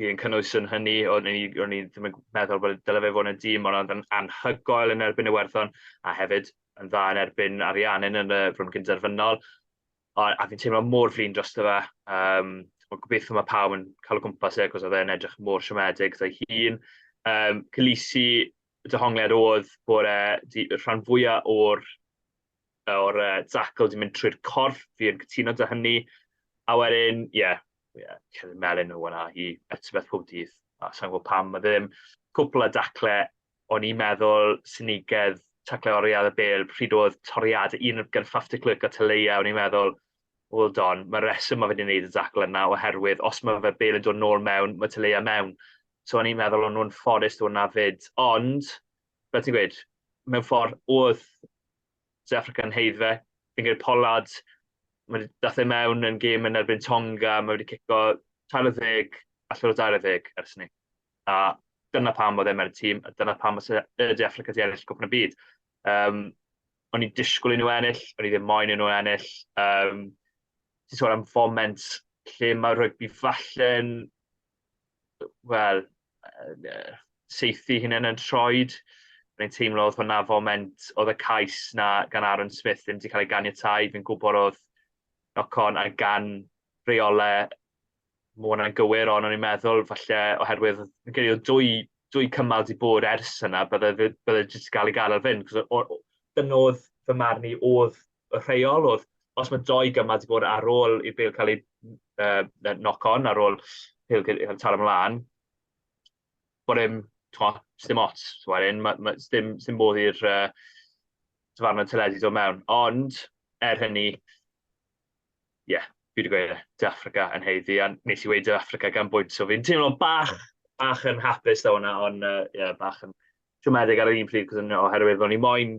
Speaker 3: fi yn cynnwys yn hynny, o'n i, o'n i ddim yn meddwl bod dyle fe fod yn y dîm, ond oedd yn anhygoel yn erbyn y werthon, a hefyd yn dda yn erbyn Ariannin yn y rhwng gynderfynol. A, a fi'n teimlo mor flin dros dy fe. Um, ond gobeithio mae pawb yn cael o gwmpas e, cos oedd e'n edrych mor siomedig dy hun. Um, Cylisi, dy hongliad oedd bod e rhan fwyaf o'r o'r uh, Zackle di mynd trwy'r corff, fi yn cytuno dy hynny. A wedyn, ie, yeah, yeah, Kevin Melin o hwnna i etifedd pob dydd, a sa'n gwybod pam, mae ddim cwpl o dacle o'n i'n meddwl synigedd tacle oriad y bel pryd oedd toriad un gan Fafty Clerc a Teleia, o'n i'n meddwl, well don, mae reswm mae fe wedi gwneud y dacle yna oherwydd os mae fe bel yn dod nôl mewn, mae Teleia mewn. So o'n i'n meddwl o'n nhw'n fforest o'n na fyd, ond, fel ti'n gweud, mewn ffordd oedd South Africa yn heidd fe. Fi'n gwneud Pollard, mae wedi dath e mewn yn gêm yn erbyn Tonga, mae wedi cico 30 allan o 20 ers ni. A dyna pam oedd e mewn tîm, a dyna pam oedd e De Africa wedi ennill gwpn y byd. Um, o'n i'n disgwyl i nhw ennill, o'n i ddim moyn i nhw ennill. Um, Ti'n sôn am foment lle mae rygbi falle'n wel, seithi hynna'n yn troed. Mae'n teimlo oedd hwnna foment, oedd y cais na gan Aaron Smith ddim wedi cael ei ganiatau. Fi'n gwybod oedd knock-on a gan reolau mae hwnna'n gywir, ond o'n i'n meddwl falle oherwydd yn gen i dwy, dwy cymal di bod ers yna, bydde, bydde jyst gael ei gael ar fynd. Dyna oedd fy marn i, oedd y rheolwr, os mae doi gymal wedi bod ar ôl i'r bel cael ei uh, knock-on, ar ôl pil cael ei taro ymlaen, bod e'n, ddim ots, wedyn, mae, ma, ddim, ddim modd i'r uh, dyfarnau teledu dod mewn. Ond, er hynny, ie, yeah, fi wedi gweud e, Dy Africa yn heiddi, a nes i weud Dy Africa gan bwynt, so fi'n teimlo bach, bach yn hapus da hwnna, ond uh, yeah, bach yn siomedig ar yr un pryd, oherwydd o'n i moyn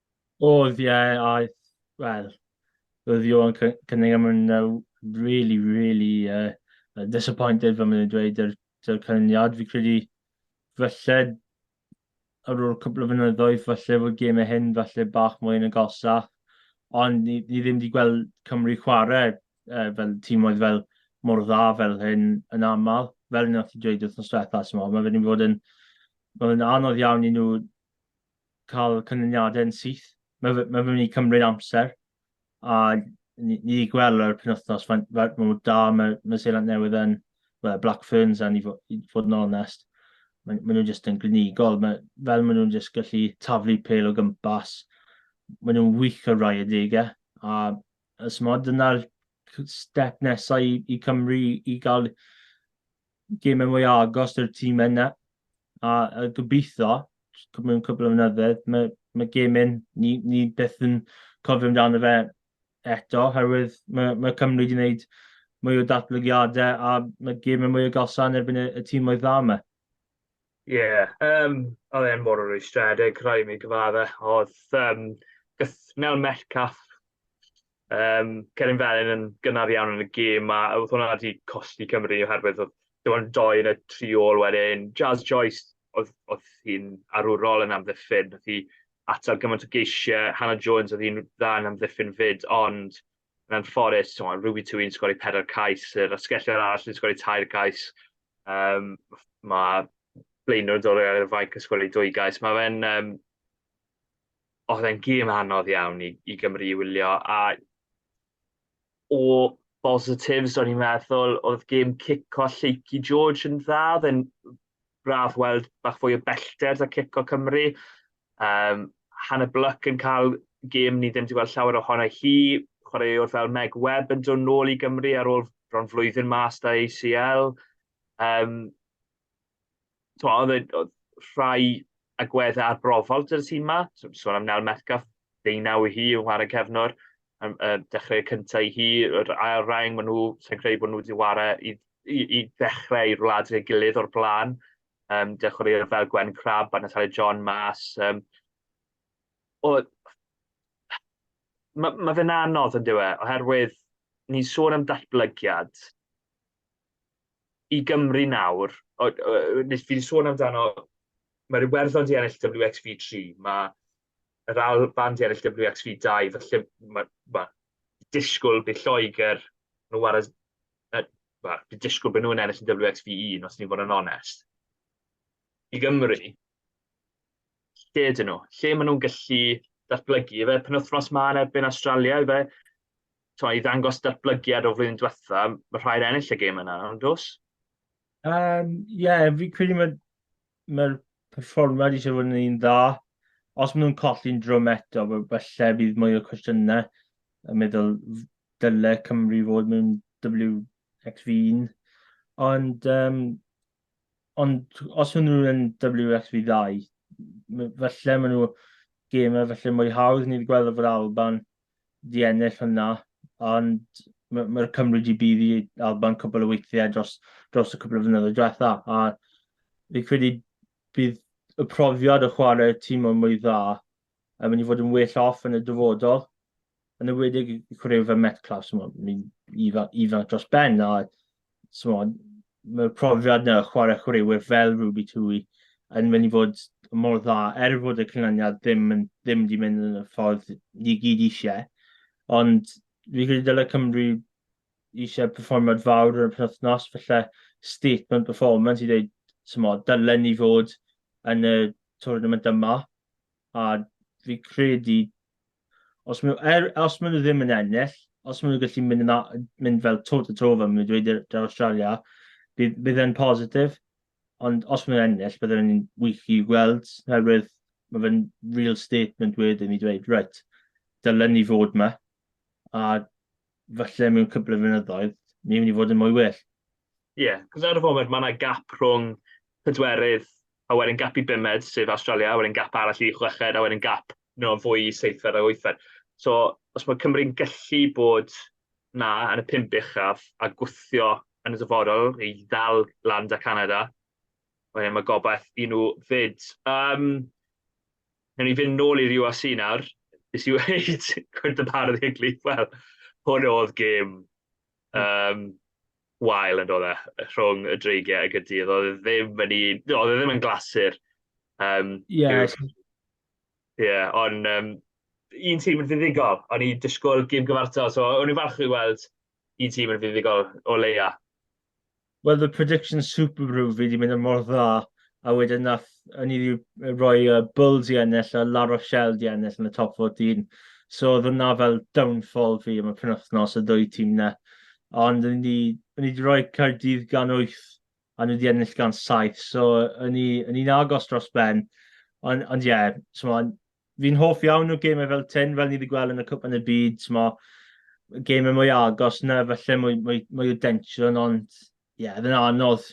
Speaker 3: Oedd, ie,
Speaker 4: aeth, wel, roedd Johan Cy- Cunningham yn uh, really, really uh, uh, disappointed, fel maen nhw'n dweud, yr, yr canlyniad. Fi credu, falle, ar ôl cwpl o fynyddoedd, falle fod gemau hyn, falle bach mwy yn y gosa. Ond ni, ni ddim wedi gweld Cymru chwarae uh, fel tîm oedd fel mor dda fel hyn yn aml. Fel yna ti dweud wrth nos diwetha, mae fe wedi bod yn... Mae'n anodd iawn i nhw cael canlyniadau yn syth. Mae fe, mae fe'n mynd i cymryd amser, a ni, ni wedi gweld yr penwthnos, mae'n ma, ma da, mae, mae Seland Newydd yn, well, Black Ferns yn i fod, i fod yn onest, maen ma nhw'n jyst yn glinigol, mae, fel maen nhw'n jyst gallu taflu pel o gympas, maen nhw'n wych o rai adegau, a ysmod, dyna'r step nesau i, i Cymru i gael gemau mwy agos i'r tîm yna. A, a gobeithio, mewn cwbl o fynyddoedd, mae, mae gemau ni, ni beth yn cofio amdano fe eto, herwydd mae, mae Cymru wedi gwneud mwy o datblygiadau a mae gemau mwy o galsan erbyn y, y tîm oedd dda yma. Ie, yeah, um,
Speaker 3: oedd e'n mor rwystredig, rhaid mi gyfadde. Oedd um, gyth, mewn mellcaff, Um, Cerin Felin yn gynnar iawn yn y gêm, a oedd hwnna wedi costi Cymru oherwydd oedd dim ond doi yn y tri ôl wedyn. Jazz Joyce, oedd, oedd hi'n arwrol yn amddiffyn, oedd hi atal gymaint o geisiau. Hannah Jones oedd hi'n dda yn amddiffyn fyd, ond yn anffodus, so, Ruby Twy'n sgori pedair cais, yr asgellwyr arall yn sgori tair cais. Um, mae blaenwr yn dod o'r fainc yn sgori dwy gais. Mae fe'n um, oedd e'n gêm anodd iawn i, i Gymru i wylio, a o positives o'n i'n meddwl, oedd gêm cico Lleucu George yn dda, oedd e'n braf weld bach fwy o bellter da cico Cymru. Um, Hannah Bluck yn cael gêm ni ddim wedi gweld llawer ohono hi, chwaraewr fel Meg Webb yn dod nôl i Gymru ar ôl bron flwyddyn mas da ACL. Um, to, oedd, e, oedd rhai agweddau arbrofol dy'r tîm yma. So, sôn am Nel Metcalf, ddeunaw i hi yng ngwarae cefnwr. Um, uh, dechrau cyntaf i hi, yr ail rhaeng, maen nhw, sy'n credu bod nhw wedi ware i, i, i ddechrau i'r wlad ei gilydd o'r blaen. Um, dechrau i'r fel Gwen Crab a Natalie John mas. Um, o, mae ma fe'n anodd yn diwe, oherwydd ni'n sôn am datblygiad, i Gymru nawr, fi wedi sôn amdano, mae'r Iwerddon di ennill WXV3, mae yr Alban di ennill WXV2, felly mae, mae disgwyl bydd Lloegr nhw war as, well, bydd disgwyl bydd nhw'n ennill yn WXV1 os ni'n fod yn onest. I Gymru, lle dyn nhw? Lle maen nhw'n gallu datblygu? Fe penwthnos ma yn erbyn Australia, fe to, i ddangos datblygiad o flwyddyn diwetha, mae rhaid ennill y gêm yna, ond dos? Ie, um,
Speaker 4: yeah, fi credu mae'r ma perfformiad i sefyll yn un dda. Os maen nhw'n colli'n drwm eto, felly bydd mwy o cwestiynau yn meddwl dyle Cymru fod mewn WXV1. Ond, um, ond os maen nhw'n yn WXV2, felly maen nhw gemau felly mwy hawdd. Ni wedi gweld o'r Alban di ennill hwnna, ond mae'r ma Cymru wedi bydd i Alban cwbl o weithiau dros, dros y cwbl o fynyddoedd diwetha, a fi'n credu bydd y profiad o chwarae tîm o'n mwy dda yn mynd i fod yn well off yn y dyfodol, yn y wedig i chwarae fe Metcalf, so mae'n ifanc, ifanc dros ben, a tmod, mae'r profiad yna o chwarae chwaraewyr fel Ruby Tui yn mynd i fod mor dda, er fod y canlyniad ddim, yn, ddim di mynd yn y ffordd ni gyd eisiau. Ond fi credu dylai Cymru eisiau perfformiad fawr yn y penwthnos, felly statement performance i dweud, tmod, dylen ni fod yn y tournament yma. A fi credu Os maen nhw, er, os maen nhw ddim yn ennill, os maen nhw'n gallu mynd, yna, mynd fel to to to fel maen nhw'n dweud i'r da Australia, bydd, bydd e'n positif. Ond os maen nhw'n ennill, bydd e'n wych i gweld, oherwydd mae fe'n real statement wedyn i dweud, right, dylen ni fod yma, a falle mewn cwbl o fynyddoedd, ni'n mynd i fod yn mwy well. Ie, yeah, cos
Speaker 3: ar y foment mae yna gap rhwng pedwerydd a wedyn gap i bumed, sef Awstralia, a wedyn gap arall i chweched, a wedyn gap no, fwy i seithfed a wythfed. So, os mae Cymru'n gallu bod na yn y pum uchaf a gwthio yn y dyfodol i ddal lan da Canada, wedyn mae gobaith i nhw fyd. Um, Newn ni fynd nôl i'r URC nawr. Nes i weud, gwynt y bardd i'r glif, wel, hwn oedd gêm um, wael yn dod e rhwng y dreigiau ag y dydd. Oedd e ddim yn un, oedd e ddim yn glasur. Um, yeah. yeah, ond um, un tîm yn fuddigol, o'n i disgwyl gym gyfartal, so o'n i'n falch i weld un tîm yn fuddigol o leia. Wel,
Speaker 4: the prediction super rhyw fi wedi mynd yn mor dda a wedyn nath o'n i wedi rhoi yy Bulls i ennill a La Rochelle 'di ennill yn y top fourteen. So o'dd hwnna fel downfall fi am y penwythnos, y ddwy tîm 'na. Ond o'n i 'di o'n i 'di rhoi Caerdydd gan wyth a nhw 'di ennill gan saith, so o'n i o'n i'n agos dros ben. On- ond ie, t'mod fi'n hoff iawn o gemau fel ten, fel ni wedi gweld yn y cwpan y byd, mo, gemau mwy agos na, falle mwy, mwy, mwy o densiwn, ond ie, yeah, yn anodd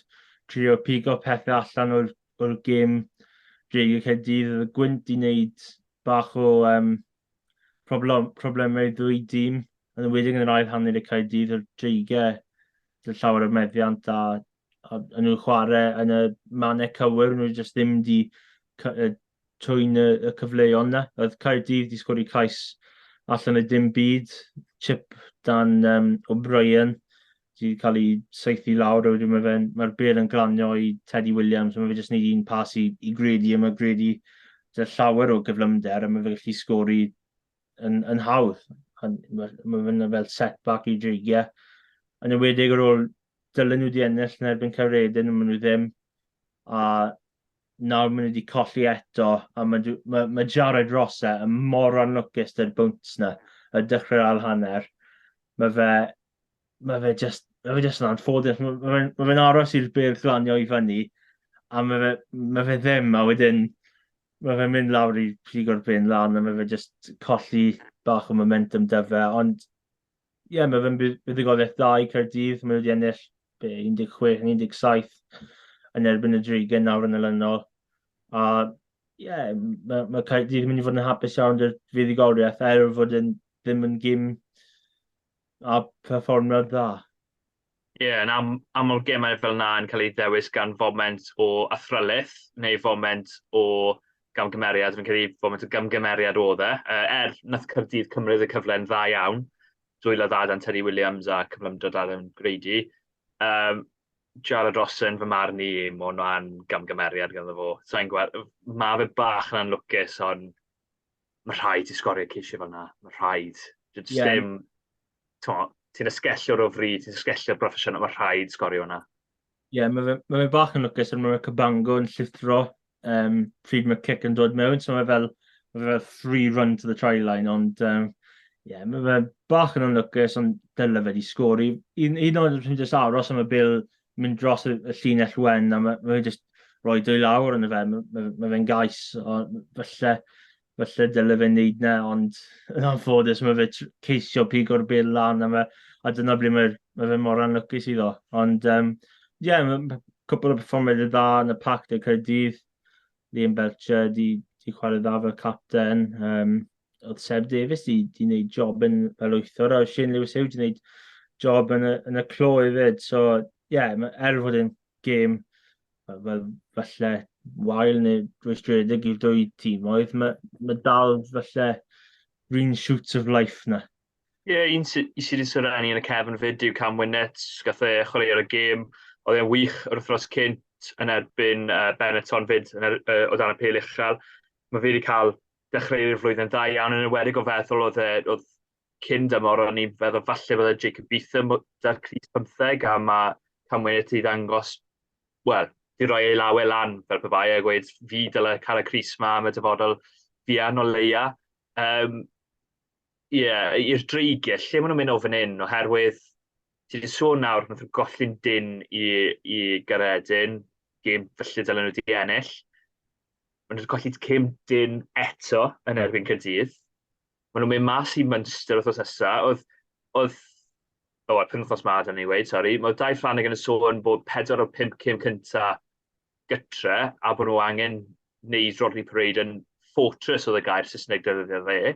Speaker 4: trio pigo pethau allan o'r, or gêm reg y Caerdydd. Oedd y gwynt i wneud bach o um, problem, problemau ddwy dîm, yn ymwedig yn yr ail hanner y Caerdydd, o'r dreigau, llawer o meddiant a a, a nhw'n chwarae yn y mannau cywir, nhw jyst ddim di twy'n y, y cyfleoedd yna. Oedd Caerdydd di sgori cais allan y dim byd, chip dan um, O'Brien, di cael ei seithi lawr, a wedyn mae fe'n, mae'r bel yn glanio i Teddy Williams, mae fe jyst wneud un pas i, i Grady, a mae Grady dy llawer o gyflymder, a mae fe gallu sgori yn, yn hawdd. Mae, mae fe'n fel setback i dreigiau. Yn ymwedig ar ôl dylen nhw wedi ennill yn erbyn Caeredin, ond maen nhw ddim. A nawr maen nhw wedi colli eto, a mae, mae, mae Jared Rosse yn mor anlwcus dy'r bwnt na, y dechrau'r ail hanner. Mae fe, mae fe just, mae fe just yn anffodus. Mae, mae, mae fe'n aros i'r byrdd glanio i fyny, a mae fe, mae fe ddim, a wedyn mae fe'n mynd lawr i prig o'r ben lan, a mae fe just colli bach o momentum dyfe, ond Ie, yeah, mae fe'n buddugoliaeth dda i Caerdydd. Mae nhw wedi ennill 16 yn 17 yn erbyn y Drigen nawr yn elynol. A ie, yeah, mae, mae Caerdydd yn mynd i fod yn hapus iawn dy'r fuddugoliaeth er fod yn ddim yn gym a perfformiad dda. Ie, yn
Speaker 3: am- aml gemau fel 'na yn cael eu dewis gan foment o athrylith neu foment o gamgymeriad. Fi'n credu foment o gamgymeriad oedd e. Yy, er, wnaeth Caerdydd cymryd y cyfle yn dda iawn, dwylo dda dan Terry Williams a cyflymdra da dan Grady. Yym, Jarrod Rossen, fy marn i, ma' hwnna'n gamgymeriad ganddo fo. Sa i'n gweld... Ma' fe bach yn anlwcus, ond ma' rhaid ti sgorio ceisiau fel 'na, ma' rhaid. Ie. Does dim timo, ti'n esgellwr o fryd, ti'n esgellwr broffesiynol, mae rhaid sgorio hwnna. Ie, yeah,
Speaker 4: mae fe, ma fe bach yn lwcus, ond mae Cabango yn llithro um, pryd mae cic yn dod mewn, so mae fel, ma fe fel free run to the try line, ond um, yeah, mae fe bach yn lwcus, ond dyna fe di sgori. Un, un o'n rhywun jyst aros am y bil mynd dros y, y llinell wen, a mae, ma fe jyst rhoi dwy lawr yn y fe, mae, ma fe'n gais, o, felly, Falle dyle fe wneud 'na, ond yn anffodus ma' fe tr- ceisio pigo'r bêl lan a ma' a dyna ble mae'r ma' fe mor anlwcus iddo. Ond, yym, ie, ma' ma' cwpwl o perfformiadau dda yn y Pac De Caerdydd. Liam Belcher 'di 'di chwarae dda fel capten, yym, oedd Seb Davies 'di 'di wneud job yn fel wythwr a oedd Shane Lewis Hugh 'di wneud job yn y yn y clo hefyd. So, ie, ma' er fod e'n gêm fel falle wael neu rwystredig i'r dwy tîm, oedd mae, ma dal falle green shoots of life na. Ie, yeah, un
Speaker 3: sydd wedi syrra ni yn y cefn fyd yw Cam Winnet, gath e chwarae ar y gêm, oedd e'n wych yr wythnos cynt yn erbyn uh, Benetton fyd yn er, uh, o dan y pel uchel. Mae fe wedi cael dechreu'r flwyddyn dda iawn yn ymwedig o feddwl oedd, e, oedd cyn dymor, o'n i'n feddwl falle bod y Jacob Beetham da'r Cris 15 a mae Camwy'n eto i ddangos, wel, di roi ei lawe lan fel pe bai a gweud fi dylai cael y Cris ma am y dyfodol fian o leia. Um, Ie, yeah, i'r dreigiau, lle maen nhw'n mynd o fan hyn, oherwydd ti wedi sôn nawr, nath nhw golli'n dyn i, i Garedin, gêm felly dylen nhw wedi ennill. Maen nhw wedi colli cym dyn eto yn erbyn Cyrdydd. Maen nhw'n mynd mas i Munster wythnos nesa. Oedd, oedd, o, oh, penwthnos ma, da ni'n gweud, sori. Mae Dai Ffraneg yn y sôn bod pedwar o pimp cym cynta gytre, a bod nhw angen wneud Rodney Parade yn fortress oedd y gair Saesneg defnyddio fe.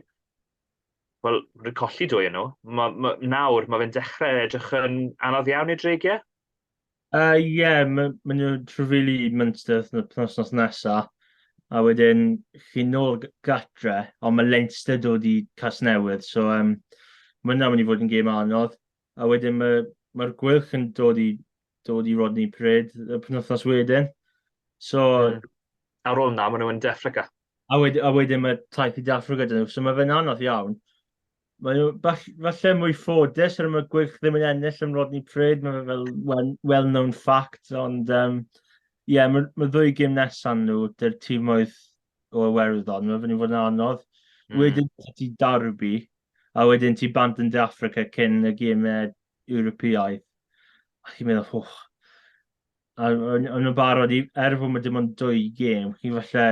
Speaker 3: Wel, rwy'n colli dwy yn nhw. Ma, ma, nawr, mae fe'n dechrau edrych yn anodd iawn i'r dreigiau. Uh, Ie, yeah,
Speaker 4: mae'n ma nhw trefili Munster wythno- penwythnos nesa, a wedyn chi'n nôl g- gatre, ond mae Leinster dod i Casnewydd, so um, mae hwnna'n mynd i fod yn gêm anodd. A wedyn mae, mae'r Gweilch yn dod i, dod i Rodney Parade y penwythnos wedyn. So, Mm. Ar
Speaker 3: ôl na, maen nhw'n De Affrica. a, wed, a wedyn
Speaker 4: mae taith i De Affrica dyn nhw, so mae fe'n anodd iawn. Mae o falle mwy ffodus ar y mae Gwyrch ddim yn ennill yn Rodney Pryd, mae fe fel well, well-known fact, ond um, yeah, mae, mae ddwy gym nesan nhw, dy'r tîm oedd o Iwerddon, mae fy'n fod yn anodd. Mm. Wedyn ti Darby, a wedyn ti bant yn De Africa cyn y gymau Ewropeaidd. A chi'n meddwl, hwch, A o'n o'n nhw'n barod i... Er fod ma' dim ond dwy gêm, chi falle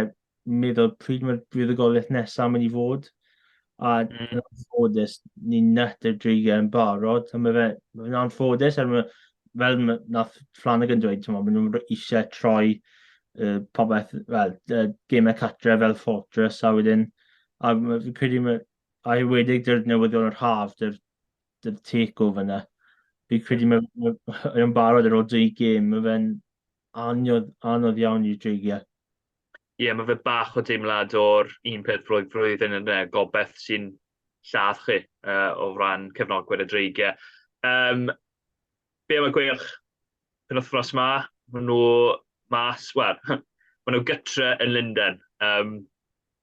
Speaker 4: meddwl pryd mae'r buddugoliaeth nesaf mynd i fod, a mm. yn anffodus, ni'n net i'r dri gêm barod, a mae fe, mae fe'n anffodus, er mae, fel ma, nath Flanagan yn dweud, mae nhw'n eisiau troi uh, popeth, wel, uh, gemau catre fel Fortress, a wedyn, a fi'n credu, mae, a i wedig dy'r newyddion yr haf, dy'r dy take o fyna. Fi credu mae fe'n barod ar ôl dwy gêm, mae fe'n anodd, anodd iawn i dreigio. Ie, yeah, mae
Speaker 3: fe bach o deimlad o'r un peth flwydd flwyddyn yn uh, gobeth sy'n lladd chi uh, o ran cefnogwyr y dreigiau. Um, Be am y gweilch penwythnos ma? Maen nhw mas, wel, maen nhw gytre yn Lundain. Um,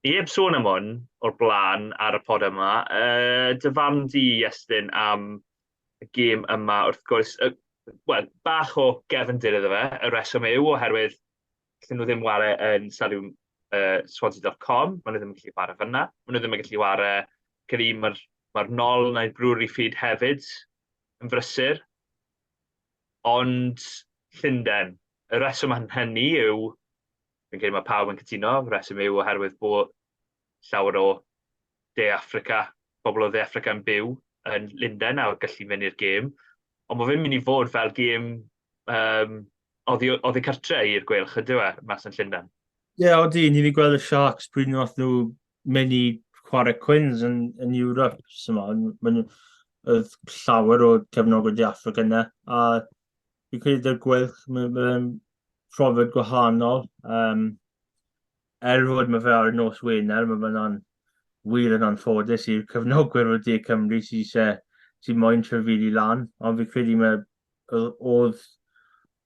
Speaker 3: ni heb sôn am hwn o'r blaen ar y pod yma. Uh, dy farn di, Iestyn, am y gêm yma, wrth gwrs, uh, well, bach o gefndir iddo fe, y reswm yw oherwydd lle nhw ddim ware yn stadiwm uh, swansea.com, maen nhw ddim yn gallu ware fyna, maen nhw ddim yn gallu ware, credu mae'r ma nol neu'r brwr i ffyd hefyd, yn brysur, ond Llundain. Y rheswm am hynny yw, fi'n credu mae pawb yn cytuno, y rheswm yw oherwydd bod llawer o De Affrica, pobl o Dde Affrica yn byw yn Llundain a gallu mynd i'r gêm. Ond mae fe'n mynd i fod fel gêm um, oddi, oddi cartre i'r gweilch, ydyw e, mas yn Llundain? Ie, yeah, oeddi, ni wedi
Speaker 4: gweld y Sharks pryd nhw nhw mynd i chwarae cwins yn, yn Europe, sy'n ma'n, oedd llawer o cefnogwyr di Africa yna, a fi'n credu dy'r gwylch, mae'n profiad gwahanol, um, er fod mae fe ar y nos Wener, mae fe'n wir yn anffodus i'r cefnogwyr o De Cymru sy'n eisiau sy'n moyn trefili lan, ond fi'n credu mae oedd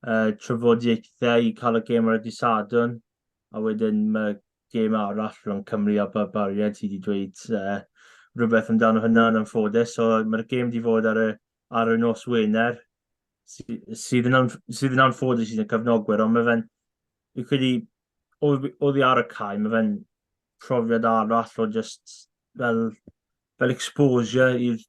Speaker 4: uh, trafodiaethau i cael y gêm ar y disadwn, a wedyn mae gêm arall rhwng Cymru a Ba- Baried sydd wedi dweud uh, rhywbeth amdano hynna yn anffodus. So mae'r gêm wedi fod ar y, ar y nos Wener sy- sydd yn, anf- sydd yn anffodus sydd yn cyfnogwyr, ond mae fe'n, fi'n credu, oedd oedd hi ar y cae, mae fe'n profiad arall o just fel, fel exposure i'r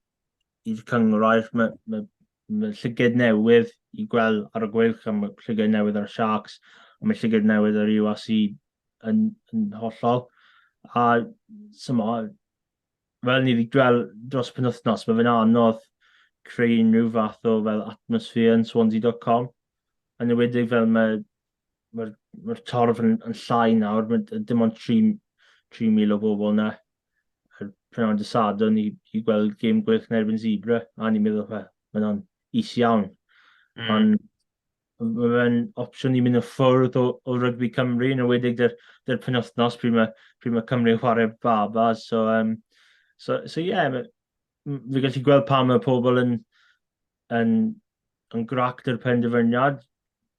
Speaker 4: i'r cynghrair. Mae, mae, mae llyged newydd i gweld ar y gweilch, a mae llyged newydd ar y Sharks, a mae llyged newydd ar UAC yn, yn hollol. A symo, fel ni wedi gweld dros y penwthnos, mae fe'n anodd creu unrhyw fath o fel atmosffer yn Swansea.com. Yn ywedig fel mae mae'r ma torf yn, yn llai nawr, mae dim ond 3,000 o bobl yna. Yr prynawn dy sadwn i, i gweld gêm gwych yn erbyn Zebra, a ni'n meddwl, fe, mae hwnna'n is iawn. Mm. Ond mae fe'n opsiwn i mynd yn ffwrdd o, o rygbi Cymru, yn ywedig dy'r, dy'r penwthnos pryd mae, pryd mae Cymru'n chwarae baba. So, um, so, so yeah, fi gallu gweld pa mae pobl yn, yn, yn gract yr penderfyniad.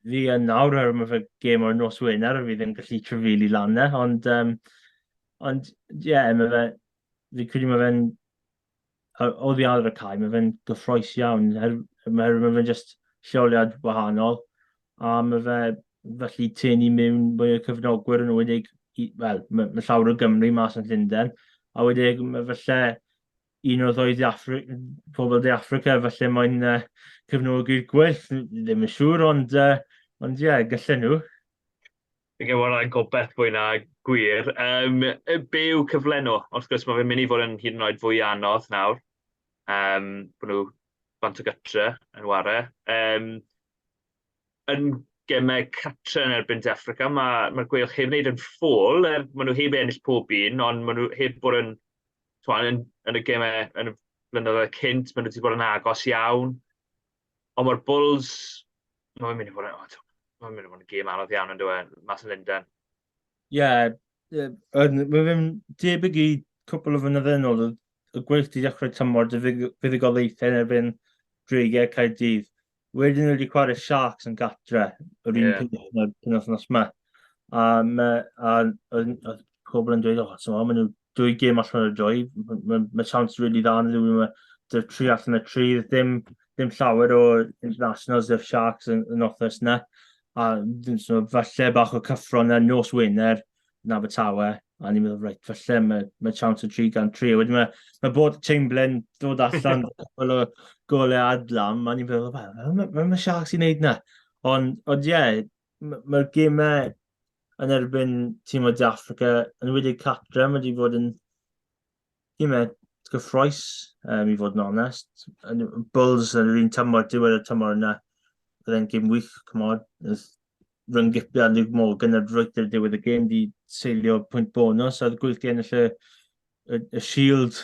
Speaker 4: Fi yn nawr ar mae fe gêm o'r nos Wener, fi ddim gallu trefili lan ne, ond, um, ond, ie, yeah, mae fe, fi credu mae fe'n, o ddiadr y cae, mae fe'n gyffroes iawn, her, mae fe'n just lleoliad wahanol, a mae fe felly tyn i mewn mwy o cyfnogwyr yn wedig, wel, mae, mae llawer o Gymru mas yn Llundain, a wedig mae felly un o'r ddwy ddeaffru, pobl de Africa, felly mae'n uh, cyfnogi'r gwerth, ddim yn siŵr, ond, uh, ond ie, yeah, gallen nhw. Fi'n
Speaker 3: gwybod rhaid gobeith fwy na gwir. Um, be yw cyflenw? Wrth gwrs, mae fe'n mynd i fod yn hyd yn oed fwy anodd nawr. Um, bod nhw bant o gytre yn ware. Um, yn gemau cartre yn erbyn De Affrica, mae, mae'r Gweilch heb wneud yn ffôl, er maen nhw heb ennill pob un, ond maen nhw heb bod yn, twan, yn, yn y gemau yn y blynyddoedd cynt, maen nhw wedi bod yn agos iawn. Ond mae'r Bulls, mae'n mynd i fod yn, mae'n mynd i fod yn gêm anodd iawn yn dweud, mas yn Lundain. Ie, yeah,
Speaker 4: yeah, mae fe'n debyg i cwpl o fynyddoedd yn ôl, y gweith di dechrau tymor dy fuddugoliaethau yn erbyn Dreigiau Caerdydd. wedyn nhw wedi chwarae Sharks yn gatre, yr un yeah. peth yn wythnos yma. A, me, a, a, a pobl yn dweud, o, oh, so, maen nhw dwy gêm allan o'r dwy, mae ma, ma chance rili really dda yn ddwy, mae dy'r tri allan y tri, ddim, ddim llawer o internationals dy'r Sharks yn, yn othos yna. A so, falle bach o cyffro yna nos Wener, yn Abertawe, a ni'n meddwl, reit, falle mae, mae chance o 303. Wedyn mae, mae bod Chamberlain dod allan fel o golau adlam, a ni'n meddwl, mae, mae, mae Sharks i'n neud na. Ond, ond ie, yeah, mae'r ma gemau yn erbyn tîm o De Africa, yn wedi Catra, mae wedi bod yn Ie, mae gyffroes, um, i fod yn onest. Bulls yn yr un tymor, diwedd y tymor yna, bydd e'n gym wych, cymod. Rhwng Gipia a Luke Morgan a roedd y diwedd y gym di seilio pwynt bonus ar gwyll di ennill y, y, y shield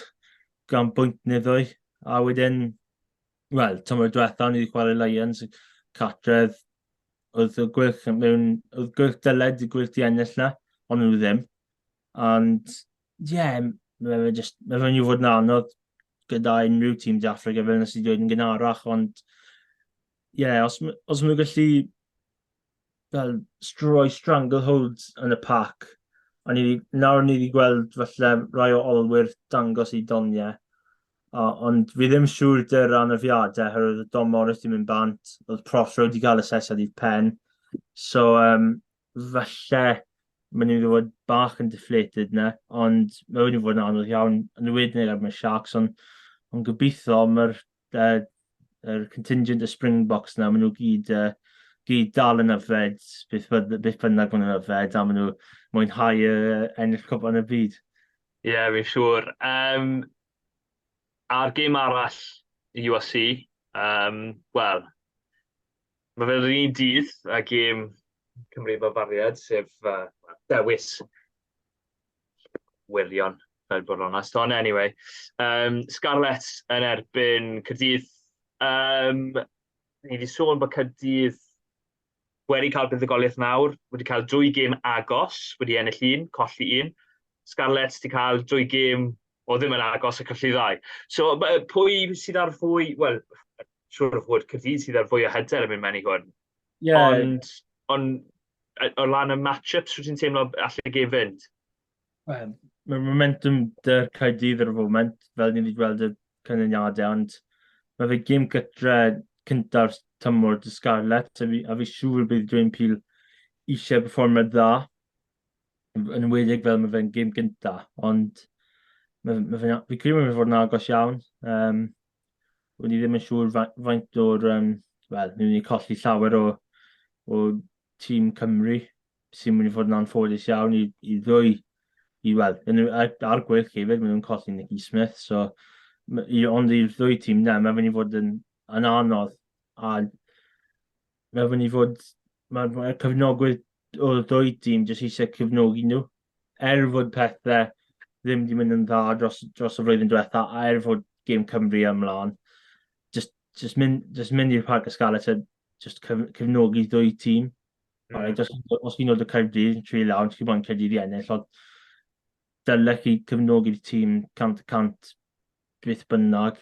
Speaker 4: gan bwynt niddo'i. A wedyn, wel, tymor diwetha o'n i wedi chwarae Lions, catredd, oedd y gwyll mewn, oedd gwyll dyled i gwyll di ennill na, ond nhw ddim. Ond, ie, mae fe jyst, mae fe'n mynd i fod yn anodd gyda unrhyw tîm De Affrica, fel wnes i ddweud yn gynharach, ond ie, os m- os maen nhw'n gallu, fel, s- rhoi stranglehold yn y pac, a ni 'di... nawr ni 'di gweld, falle, rai o olwyr dangos eu doniau, o- ond fi ddim yn siŵr 'da'r anafiadau, oherwydd oedd Dom Morris 'di mynd bant, oedd Prothero 'di cael asesiad uwchben. So, yym, falle maen nhw'n fod bach yn deflated na, ond mae wedi bod yn anodd iawn yn y wedyn ar mae Sharks, ond on gobeithio mae'r uh, er contingent y Springboks na, maen nhw gyd, uh, gyd dal yn yfed, beth, beth bynnag maen nhw'n yfed, a maen nhw mwynhau uh, ennill cwp yn y byd. Ie, yeah, fi'n
Speaker 3: siŵr. Um, a'r gêm arall USC, um, wel, Mae fe'r un dydd a gêm Cymru fel bariad, sef uh, dewis wirion, fel bod o'n onest. Ond anyway, um, Scarlets yn erbyn Cyrdydd. Um, ni wedi sôn bod Cyrdydd wedi cael buddugoliaeth mawr, wedi cael dwy gêm agos, wedi ennill un, colli un. Scarlets wedi cael dwy gêm O ddim yn agos y cyllidau. So, pwy sydd ar fwy, wel, siwr o fod Cyrdydd sydd ar fwy o hyder yn mynd mewn i hwn. Yeah. Ond, ond o lan y match-ups, rwy'n ti'n teimlo allu gef fynd? Well,
Speaker 4: mae momentum dy'r Caerdydd ar y foment, fel ni wedi gweld y canlyniadau, ond mae fe gym gytre cyntaf tymor dy Scarlett, a fi, a fi siŵr bydd Dwayne Peel eisiau performer dda. yn enwedig fel mae fe'n gêm gynta, ond mae, mae fe'n, fi credu mae fe fod yn agos iawn. Um, Wyd i ddim yn siŵr faint o'r, um, wel, ni'n mynd i colli llawer o, o tîm Cymru sy'n mynd i fod yn anffodus iawn i, i ddwy, i, wel, ar gwych hefyd, maen nhw'n colli Nicky Smith, so, i, ond i'r ddwy tîm na, mae fe'n i fod yn, yn anodd, a Mae'n fyny fod mae'r cyfnogwyr o'r ddwy dîm jyst eisiau cyfnogi nhw. Er fod pethau ddim wedi mynd yn dda dros, dros y flwyddyn diwetha, a er fod gêm Cymru ymlaen, jyst, jyst mynd, jyst mynd i'r Parc Ysgalet a jyst cyf, cyfnogi ddwy tîm. Mm. Right, os, os chi'n dod o Caerdydd, tri lawr, chi'n moyn Caerdydd i ennill, ond dylech chi cefnogi'r tîm cant y cant beth bynnag.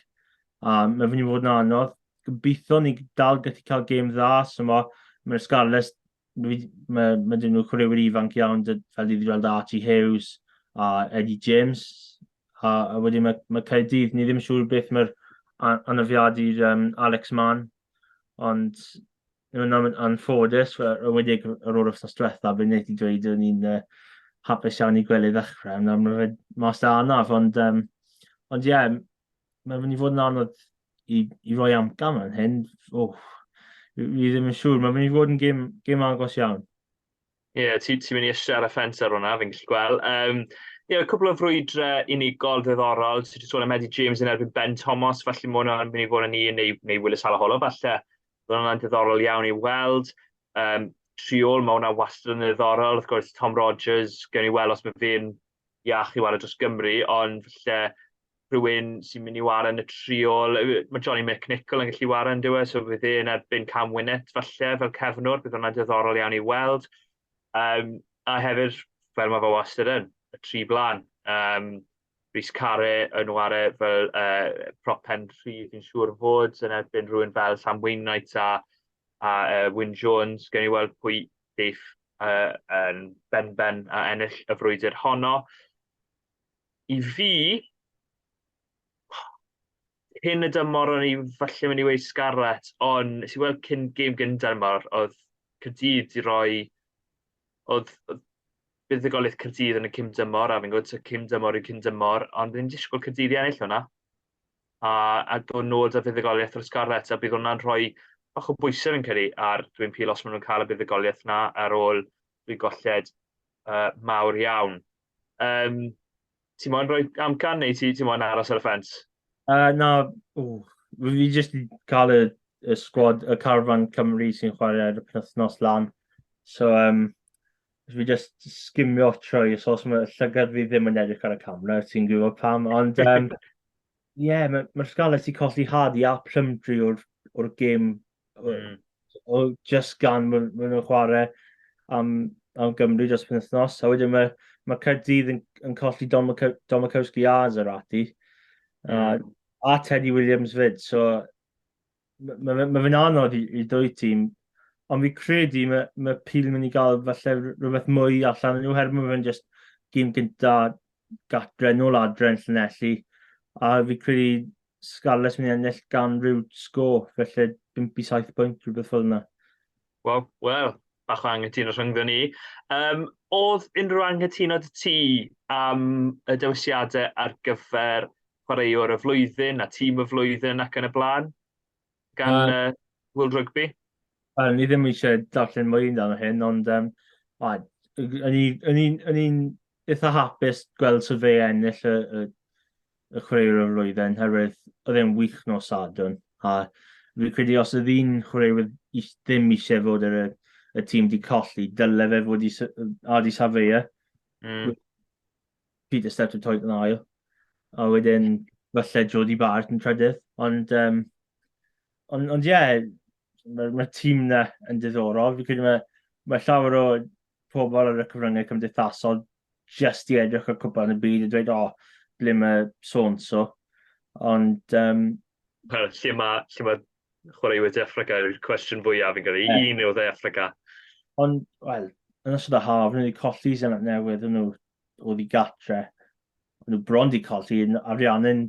Speaker 4: A mae'n fynd i fod yn anodd. Gobeithio ni dal gallu cael gêm dda, so mae mae'r Scarlets, mae, mae, mae dyn nhw chwaraewyr ifanc iawn, fel dwi wedi gweld Archie Hughes a Eddie James, a, a wedyn mae, mae Caerdydd, ni ddim yn siŵr beth mae'r anafiadu'r um, Alex Mann, ond Yn yn yn anffodus, we- yn enwedig y- ar ôl yr wythnos diwetha, fi'n neud i dweud o'n i'n, yy, hapus iawn i gwely ddechrau, nawr ma' fe mas 'da arnaf, ond, yym, ond ie, m- ma' fe myn' i fod yn anodd i i roi amcan fan hyn, wff, fi fi ddim yn siŵr, ma' myn' i fod yn gêm gêm agos iawn. Ie,
Speaker 3: ti'n ti mynd i eisiau ar y ffens ar hwnna, fi'n gallu gweld. Um, ie, yeah, cwbl o frwydrau unigol ddiddorol. Ti'n ti sôn am Eddie James yn erbyn Ben Thomas, felly mae hwnna'n mynd i fod yn un, neu, neu Willis Halaholo, falle. Mae hwnna'n ddiddorol iawn i weld. Um, triol, mae hwnna wastad yn ddiddorol. Wrth gwrs, Tom Rogers, gen i weld os mae fe'n iach i ware dros Gymru, ond falle rhywun sy'n mynd i ware yn y triol, mae Johnny McNichol yn gallu ware yn dywe, so bydd e'n erbyn Cam Winnet falle fel cefnwr, bydd hwnna'n diddorol iawn i weld. Um, a hefyd, fel mae fe wastad yn, y tri blaen. Um, Rhys Care yn ware fel uh, prop pen rhydd yn siŵr fod yn erbyn rhywun fel Sam Wainwright a, a uh, Wyn Jones. Gen i weld pwy Bydd y yn benben a ennill y frwydr honno. I fi, cyn y dymor o'n i falle mynd i weud Scarlett, ond nes i weld cyn gêm gyntaf dymor, oedd Cyrdydd di roi... oedd, oedd buddugoliaeth Cyrdydd yn y cym dymor, a fi'n gwybod cym dymor yw cym dymor, ond fi'n disgwyl Cyrdydd i ennill hwnna. a a dod nôl 'da fuddugoliaeth fel Scarlets a bydd hwnna'n rhoi bach o bwyse fi'n credu ar Dwyn Peel os ma' nhw'n cael y buddugoliaeth 'na ar ôl rhy golled uh, mawr iawn. Um, ti moyn rhoi amcan neu ti, ti moyn aros ar y ffens? Uh, na, ww,
Speaker 4: fi jyst i cael y, y sgwad, y carfan Cymru sy'n chwarae ar y penwthnos lan. So, um, Dwi jyst sgimio trwy, so os mae llygad fi ddim yn edrych ar y camera, ti'n gwybod pam, ond um, yeah, mae'r ma Scarlets wedi colli Hardy a Plumtree o'r, or gêm, mm. o, just gan maen ma nhw'n chwarae am, am Gymru dros penwthnos, a wedyn mae, ma Caerdydd yn, yn colli Don, Mac Don Makowski a Zerati, mm. a, a Teddy Williams fyd, so Mae fe, ma fe'n anodd i, i dwy tîm, ond fi credu mae, mae Peel yn mynd i gael falle rhywbeth mwy allan yn nhw, herwydd mae fe'n just gym gynta gatre, nôl adre yn Llanelli, a fi credu Scarlets mynd i ennill gan rhyw sgôr, felly 5 i 7 pwynt, rhywbeth fel yna. Waw, wel,
Speaker 3: bach o anghytuno rhyngddon ni. Um, oedd unrhyw anghytuno dy ti am y dewisiadau ar gyfer chwaraewr y flwyddyn a tîm y flwyddyn ac yn y blaen gan uh, uh, World Rugby? Um, ni ddim
Speaker 4: eisiau darllen mwy yn dan hyn, ond um, a, yn i'n eitha hapus gweld sut fe ennill y, y, y chwaraewr o'r flwyddyn, herwydd oedd e'n wych nos Sadwn. A fi credu os oedd un chwaraewr ddim eisiau fod ar y, y tîm di colli, dyle fe fod i Ardi Safeia. Mm. Peter Steph yn toed yn ail. A wedyn, falle Jody Barrett yn trydydd. Ond, um, ond, ond ie, yeah, mae'r ma tîm na yn diddorol. Fi credu mae, mae llawer o pobl ar y cyfryngau cymdeithasol jyst i edrych ar cwpan y byd a dweud, o, oh, ble mae so-and-so. Ond... Um...
Speaker 3: Lle mae, lle mae chwaraewyr de Africa yw'r cwestiwn fwyaf yn gyda'i yeah. un yw de Africa. Ond,
Speaker 4: wel, yn ystod y haf, nhw wedi colli sy'n newydd nhw oedd i gatre. Nhw bron wedi colli yn ariannu'n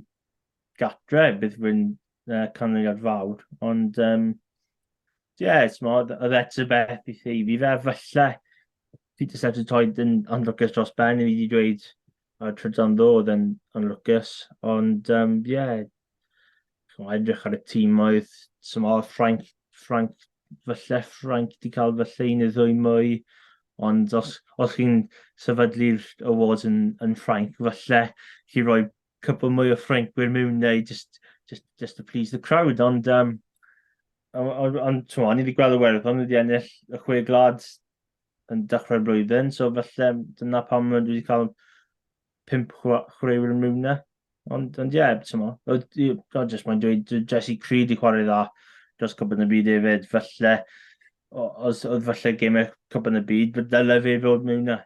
Speaker 4: gatre, bydd rwy'n uh, canlyniad fawr, ond um, yeah, it's more, oedd eto beth i chi. Fi fe falle Peter Sebs yn toed yn anlwcus dros ben, i fi wedi dweud y trydan ddo oedd yn anlwcus, ond um, yeah, chymod, edrych ar y tîm oedd, sy'n oedd Frank, Frank, falle Frank wedi cael falle un neu ddwy mwy, ond os, os chi'n sefydlu'r awards yn, yn Frank, falle chi roi cwpl mwy o Ffrancwyr mewn neu just, just, just to please the crowd, ond um, ond, ond ti'n o'n i wedi gweld y werddon wedi ennill y chwe glad yn dechrau'r blwyddyn, so felly dyna pam mae wedi cael pimp chwaraewyr yn rhywna. Ond, ond ie, ti'n mo, o, jyst mae'n dweud, Jesse Creed i chwarae dda dros cwbl y byd hefyd, felly, os oedd felly gemau cwbl y byd, fe dylai fe fod mewn na.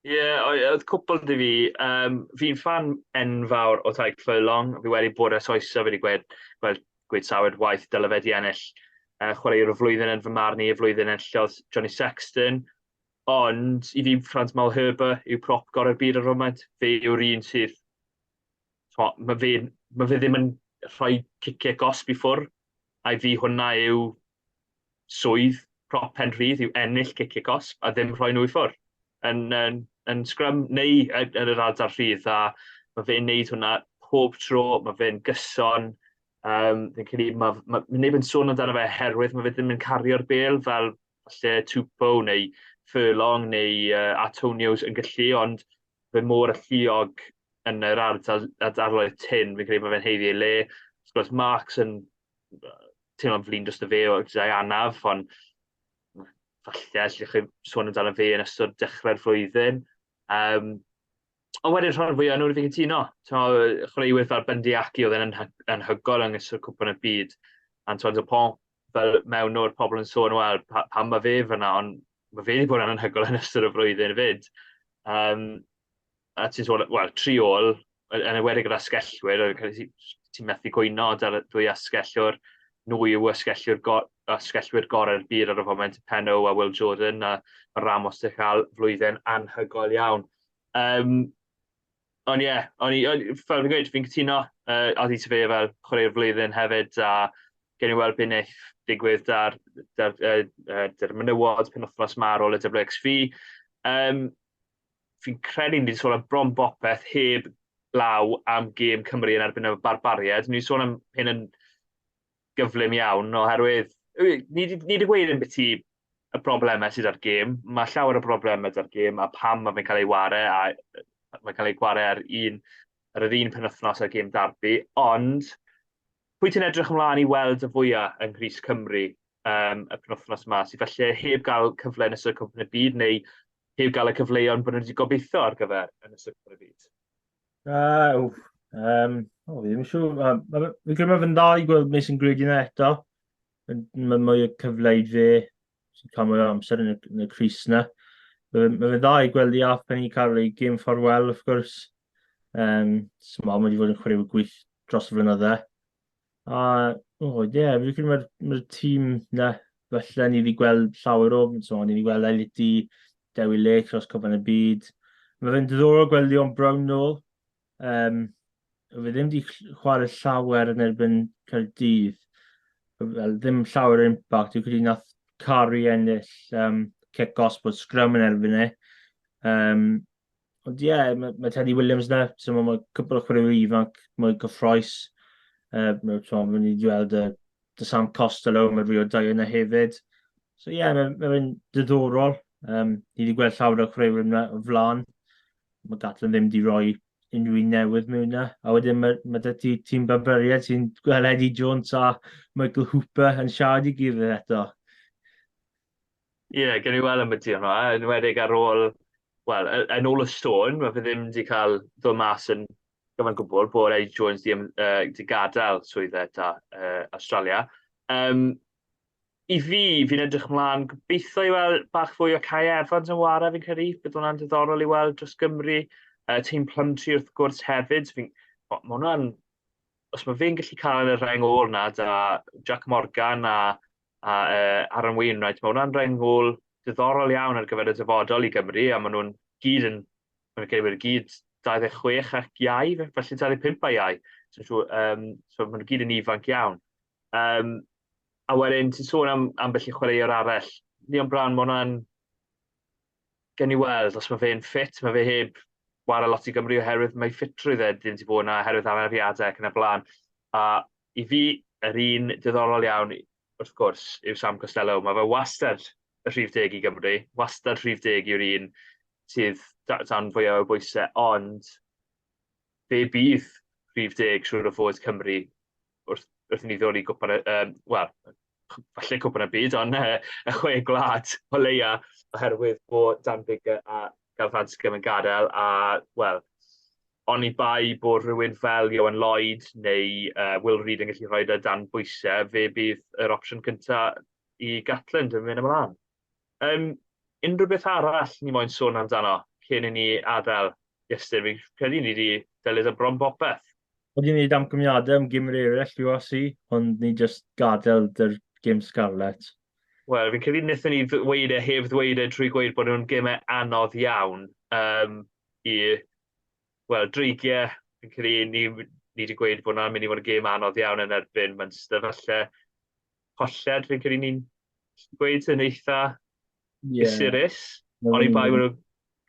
Speaker 4: Ie,
Speaker 3: oedd oedd cwpl 'da fi, yym, fi'n ffan enfawr o Tadhg Furlong, fi wedi bod ers oesoedd wedi gweud gweud gweud sawl waith dyle fe 'di ennill yy chwaraewr y flwyddyn yn fy marn i, y flwyddyn enillodd Johnny Sexton, ond i fi Frans Malherbe yw prop gorau'r byd ar y foment, fe yw'r un sydd t'mo' ma' fe'n ma' fe ddim yn rhoi cicie gosb i ffwr', a i fi hwnna yw swydd prop Penrhydd yw ennill cic y cosb a ddim rhoi nhw i ffwrdd yn, yn, yn sgrym neu yn, yn yr adar rhydd a mae fe'n neud hwnna pob tro, mae fe'n gyson, um, fi'n credu mae, mae, mae neb yn sôn amdano fe herwydd mae fe ddim yn cario'r bel fel lle Tupo neu Furlong neu uh, Atonios yn gallu, ond fe mor alluog yn yr ardal, adarloedd tyn, fi'n credu mae fe'n heiddi ei le. Wrth gwrs, Marks yn teimlo'n flin dros y fe o gyda'i anaf, ond falle allwch chi sôn amdano fe yn ystod dechrau'r flwyddyn. Um, ond wedyn rhan fwy o'n nhw'n fi'n cytuno. Chwaraewyr fel Bundy Aki oedd yn anhygol yng nghysylltu cwpan y byd. Antoine Dupont, fel mewn o'r pobl yn sôn, wel, pa, pam mae fe fyna, ond mae fe wedi bod yn anhygol yn ystod y flwyddyn fyd. Um, a ti'n sôn, wel, tri ôl, yn ewedig gyda sgellwyr, ti'n methu cwyno da'r dwy asgellwr, nhw yw asgellwyr, go, asgellwyr gorau'r byd ar y foment, Penno a Will Jordan, a mae Ramos wedi cael flwyddyn anhygoel iawn. Um, ond ie, yeah, ond fel fi'n gweud, fi'n cytuno, uh, oedd i ti fe fel chwarae'r flwyddyn hefyd, a gen i weld beth wneud digwydd da'r, dar, uh, uh, menywod penwthnos ma ar ôl y WXV. Um, fi'n credu ni wedi sôn am bron bopeth heb law am gêm Cymru yn erbyn y barbariad. Ni wedi sôn am hyn yn gyflym iawn, oherwydd ni wedi gweud yn beth i y broblemau sydd ar gêm. Mae llawer o broblemau ar gêm a pam mae fe'n cael ei ware a mae'n cael ei gware ar un ar yr un penwythnos ar gêm darbu, ond pwy ti'n edrych ymlaen i weld y fwyaf yng Nghris Cymru um, y penwythnos yma, sydd felly heb gael cyfle yn ystod cwmpen y byd neu Heb gael y cyfleon bod nhw wedi gobeithio ar gyfer yn y Super Beat? Uh, ww, um,
Speaker 4: o, fi ddim yn siŵr. Um, Fi'n credu mae fe'n dda i gweld Mason Grigg yna eto. Mae mwy o cyfleid fe sy'n cael mwy o amser yn y, yn y Cris yna. Mae fe'n dda i gweld i Alf Penny cael ei gym ffordd wel, wrth gwrs. Um, Smol, mae wedi bod yn chwaraewyr gwych dros y flynydde. A, o, ie, yeah, fi'n credu mae'r ma tîm na, felly ni wedi gweld llawer o, so, ni wedi gweld Eliti, Dewi Lake, Rhos Cofan y Byd. Mae fe'n diddorol gweld Leon Brown nôl. Um, fe ddim wedi chwarae llawer yn erbyn Caerdydd. Fel, ddim llawer o impact. Dwi'n credu nath Cari ennill um, cic os bod sgrym yn erbyn e. Um, Ond ie, yeah, mae, mae Teddy Williams na, so mae, mae cwpl o chwaraewyr ifanc mwy gyffroes. Uh, mae so, mae ni wedi gweld uh, The Sam Costello, mae Rio Dau yna hefyd. So ie, yeah, mae'n mae fe'n diddorol. Um, ni wedi gweld llawer o chwaraewyr yna o flan. Mae Gatlin ddim wedi rhoi unrhyw un newydd mewn yna. A wedyn mae, mae dy ti tîm Barbariad sy'n gweld Eddie Jones a Michael Hooper yn siarad i gilydd eto.
Speaker 3: Ie, yeah, gen i weld am y ti hwnna, yn wedig ar ôl, wel, yn ôl y sôn, mae fe ddim wedi cael ddod mas yn gyfan gwbl bod Eddie Jones wedi uh, di gadael swydd eta uh, Australia. Um, I fi, fi'n edrych mlaen gobeithio i weld bach fwy o Kai Evans yn wara fi'n credu, bydd hwnna'n diddorol i weld dros Gymru. Uh, Team Plumtree wrth gwrs hefyd, fi'n... Mae hwnna'n... Os mae fe'n gallu cael y rhaeng ôl na, da Jack Morgan a a uh, Aaron Wainwright. Mae hwnna'n rhaid ngôl diddorol iawn ar gyfer y dyfodol i Gymru, a maen nhw'n gyd yn, maen nhw'n gwneud gyd 26 ac iau, felly 25 a iau. So, so, um, so maen nhw'n gyd yn ifanc iawn. Um, a wedyn, ti'n sôn am, am felly chwaraewr arall. Leon Brown, mae hwnna'n Gewn ni weld os mae fe'n ffit, mae fe heb wara lot i Gymru oherwydd mae ffitrwydd e ddim wedi bod yna oherwydd anafiadau ac yn y blaen. A i fi, yr un diddorol iawn, wrth gwrs, yw Sam Costelow. Mae fe wastad y rhif deg i Gymru, wastad rhif deg yw'r un sydd dan fwyaf o bwysau, ond fe bydd rhif deg siŵr o fod Cymru wrth, wrth i ni ddod i gwpan y, um, wel, falle cwpan y byd, ond uh, y chwe gwlad o leia, oherwydd bod Dan Bigger a Gael Fransgym yn gadael, a, wel, ond i bai bod rhywun fel Johan Lloyd neu uh, Will Reid yn gallu rhoi da dan bwysau, fe bydd yr opsiwn cyntaf i Gatland yn mynd ymlaen. Yym, unrhyw beth arall ni moyn sôn amdano cyn i ni adael, Iestyn? Fi'n credu ni 'di delio 'da bron bopeth. Wedi wneud
Speaker 4: amcaniadau am gymr eraill URC, ond ni jyst gadael 'da'r gem scarlet. Wel, fi'n credu
Speaker 3: wnaethon ni ddweud e heb ddweud e drwy gweud bod nhw'n gemau anodd iawn um, i, wel, dreigiau. Fi'n credu ni, ni wedi gweud bod hwnna'n mynd i fod yn gem anodd iawn yn erbyn Munster. Falle colled, fi'n credu ni'n gweud yn eitha yeah. gysurus, ond i bai wedi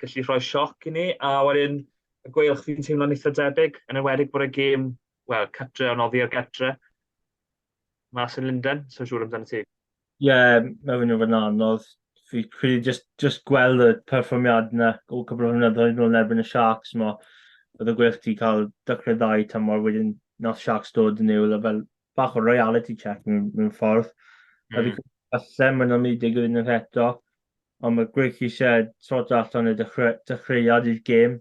Speaker 3: gallu rhoi sioc i ni, a wedyn y gweilch fi'n teimlo'n eitha debyg, yn enwedig bod y gêm, wel, cytre o'n oddi ar gytre, mas yn Linden, so siŵr amdano ti. Ie, yeah, mae
Speaker 4: hwnnw fod yn anodd. Fi credu just, just gweld y perfformiad yna o cwbl o hwnnw yn ôl erbyn y Sharks, mo. Oedd y gweilch ti cael dychrau ddau tamor wedyn nos Sharks dod yn ewl, a fel bach o reality check mewn, mewn ffordd. Mm. A fi hmm. falle mae'n nhw'n mynd i digwydd unwaith eto, ond mae Greg eisiau sort allan y dechreuad i'r gêm.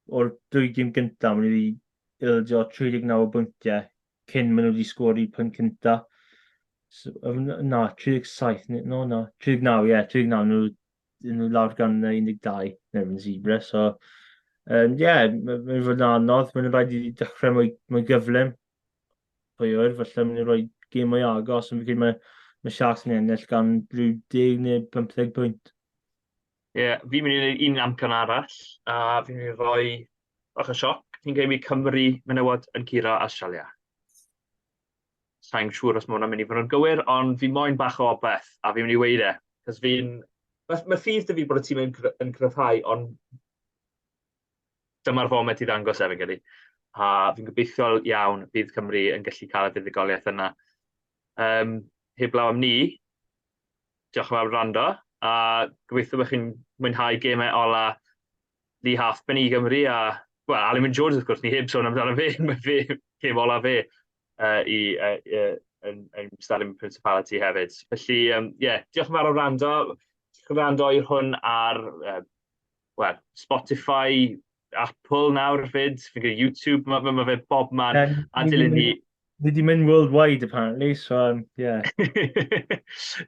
Speaker 4: O'r dwy gym gyntaf, mae wedi ildio 39 bwyntiau cyn maen nhw wedi sgori pyn cyntaf. So, na, 37, no, na, 39, ie, yeah, 39, nhw, nhw lawr gan 12 neu yn Zebra, so, ie, um, yeah, mae'n fod yn anodd, mae'n rhaid i ddechrau mwy, mwy gyflym, pwy oer, falle mynd i roi gêm mwy agos, ond fi'n credu mae, mae Sharks yn ennill gan rhyw 10 neu 15 pwynt. Ie, yeah,
Speaker 3: fi'n mynd i wneud un amcan arall, a fi'n mynd i roi bach o sioc. Fi'n credu Cymru menywod yn curo Australia. Sa'n siŵr os mae hwnna'n mynd i fod yn gywir, ond fi moyn bach o obeth, a fi'n mynd i weid e. Cos fi'n... Mae, mae ffydd dy fi bod y tîm yn, yn cryfhau, ond Dyma'r foment i ddangos e, fi'n credu. A fi'n gobeithiol iawn bydd Cymru yn gallu cael y fuddugoliaeth yna. Um, heblaw am ni, diolch yn fawr rando, a gobeithio bod chi'n mwynhau gemau ola Lee Halfpen i Gymru, a well, Alan Wyn Jones, wrth gwrs, ni heb sôn amdano fe, mae fe gem ola fe uh, i, uh, uh, yn, yn Stalin Principality hefyd. Felly, ie, um, yeah, diolch yn fawr o rando, rando i'r hwn ar uh, well, Spotify, Apple nawr fyd, fi'n gwneud YouTube, mae ma fe bob man, yeah, a dilyn ni... Ni di mynd
Speaker 4: worldwide apparently, so um, yeah.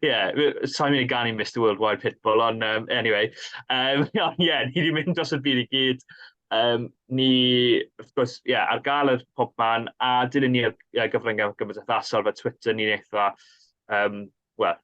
Speaker 3: yeah, sa'n mynd i ganu Mr Worldwide Pitbull, ond um, anyway. Um, yeah, ni di mynd dros y byd i gyd. Um, ni, wrth gwrs, yeah, ar gael yr pob man, a dilyn ni ar gyfryngau gymryd athasol fe Twitter, ni'n eitha, um, well,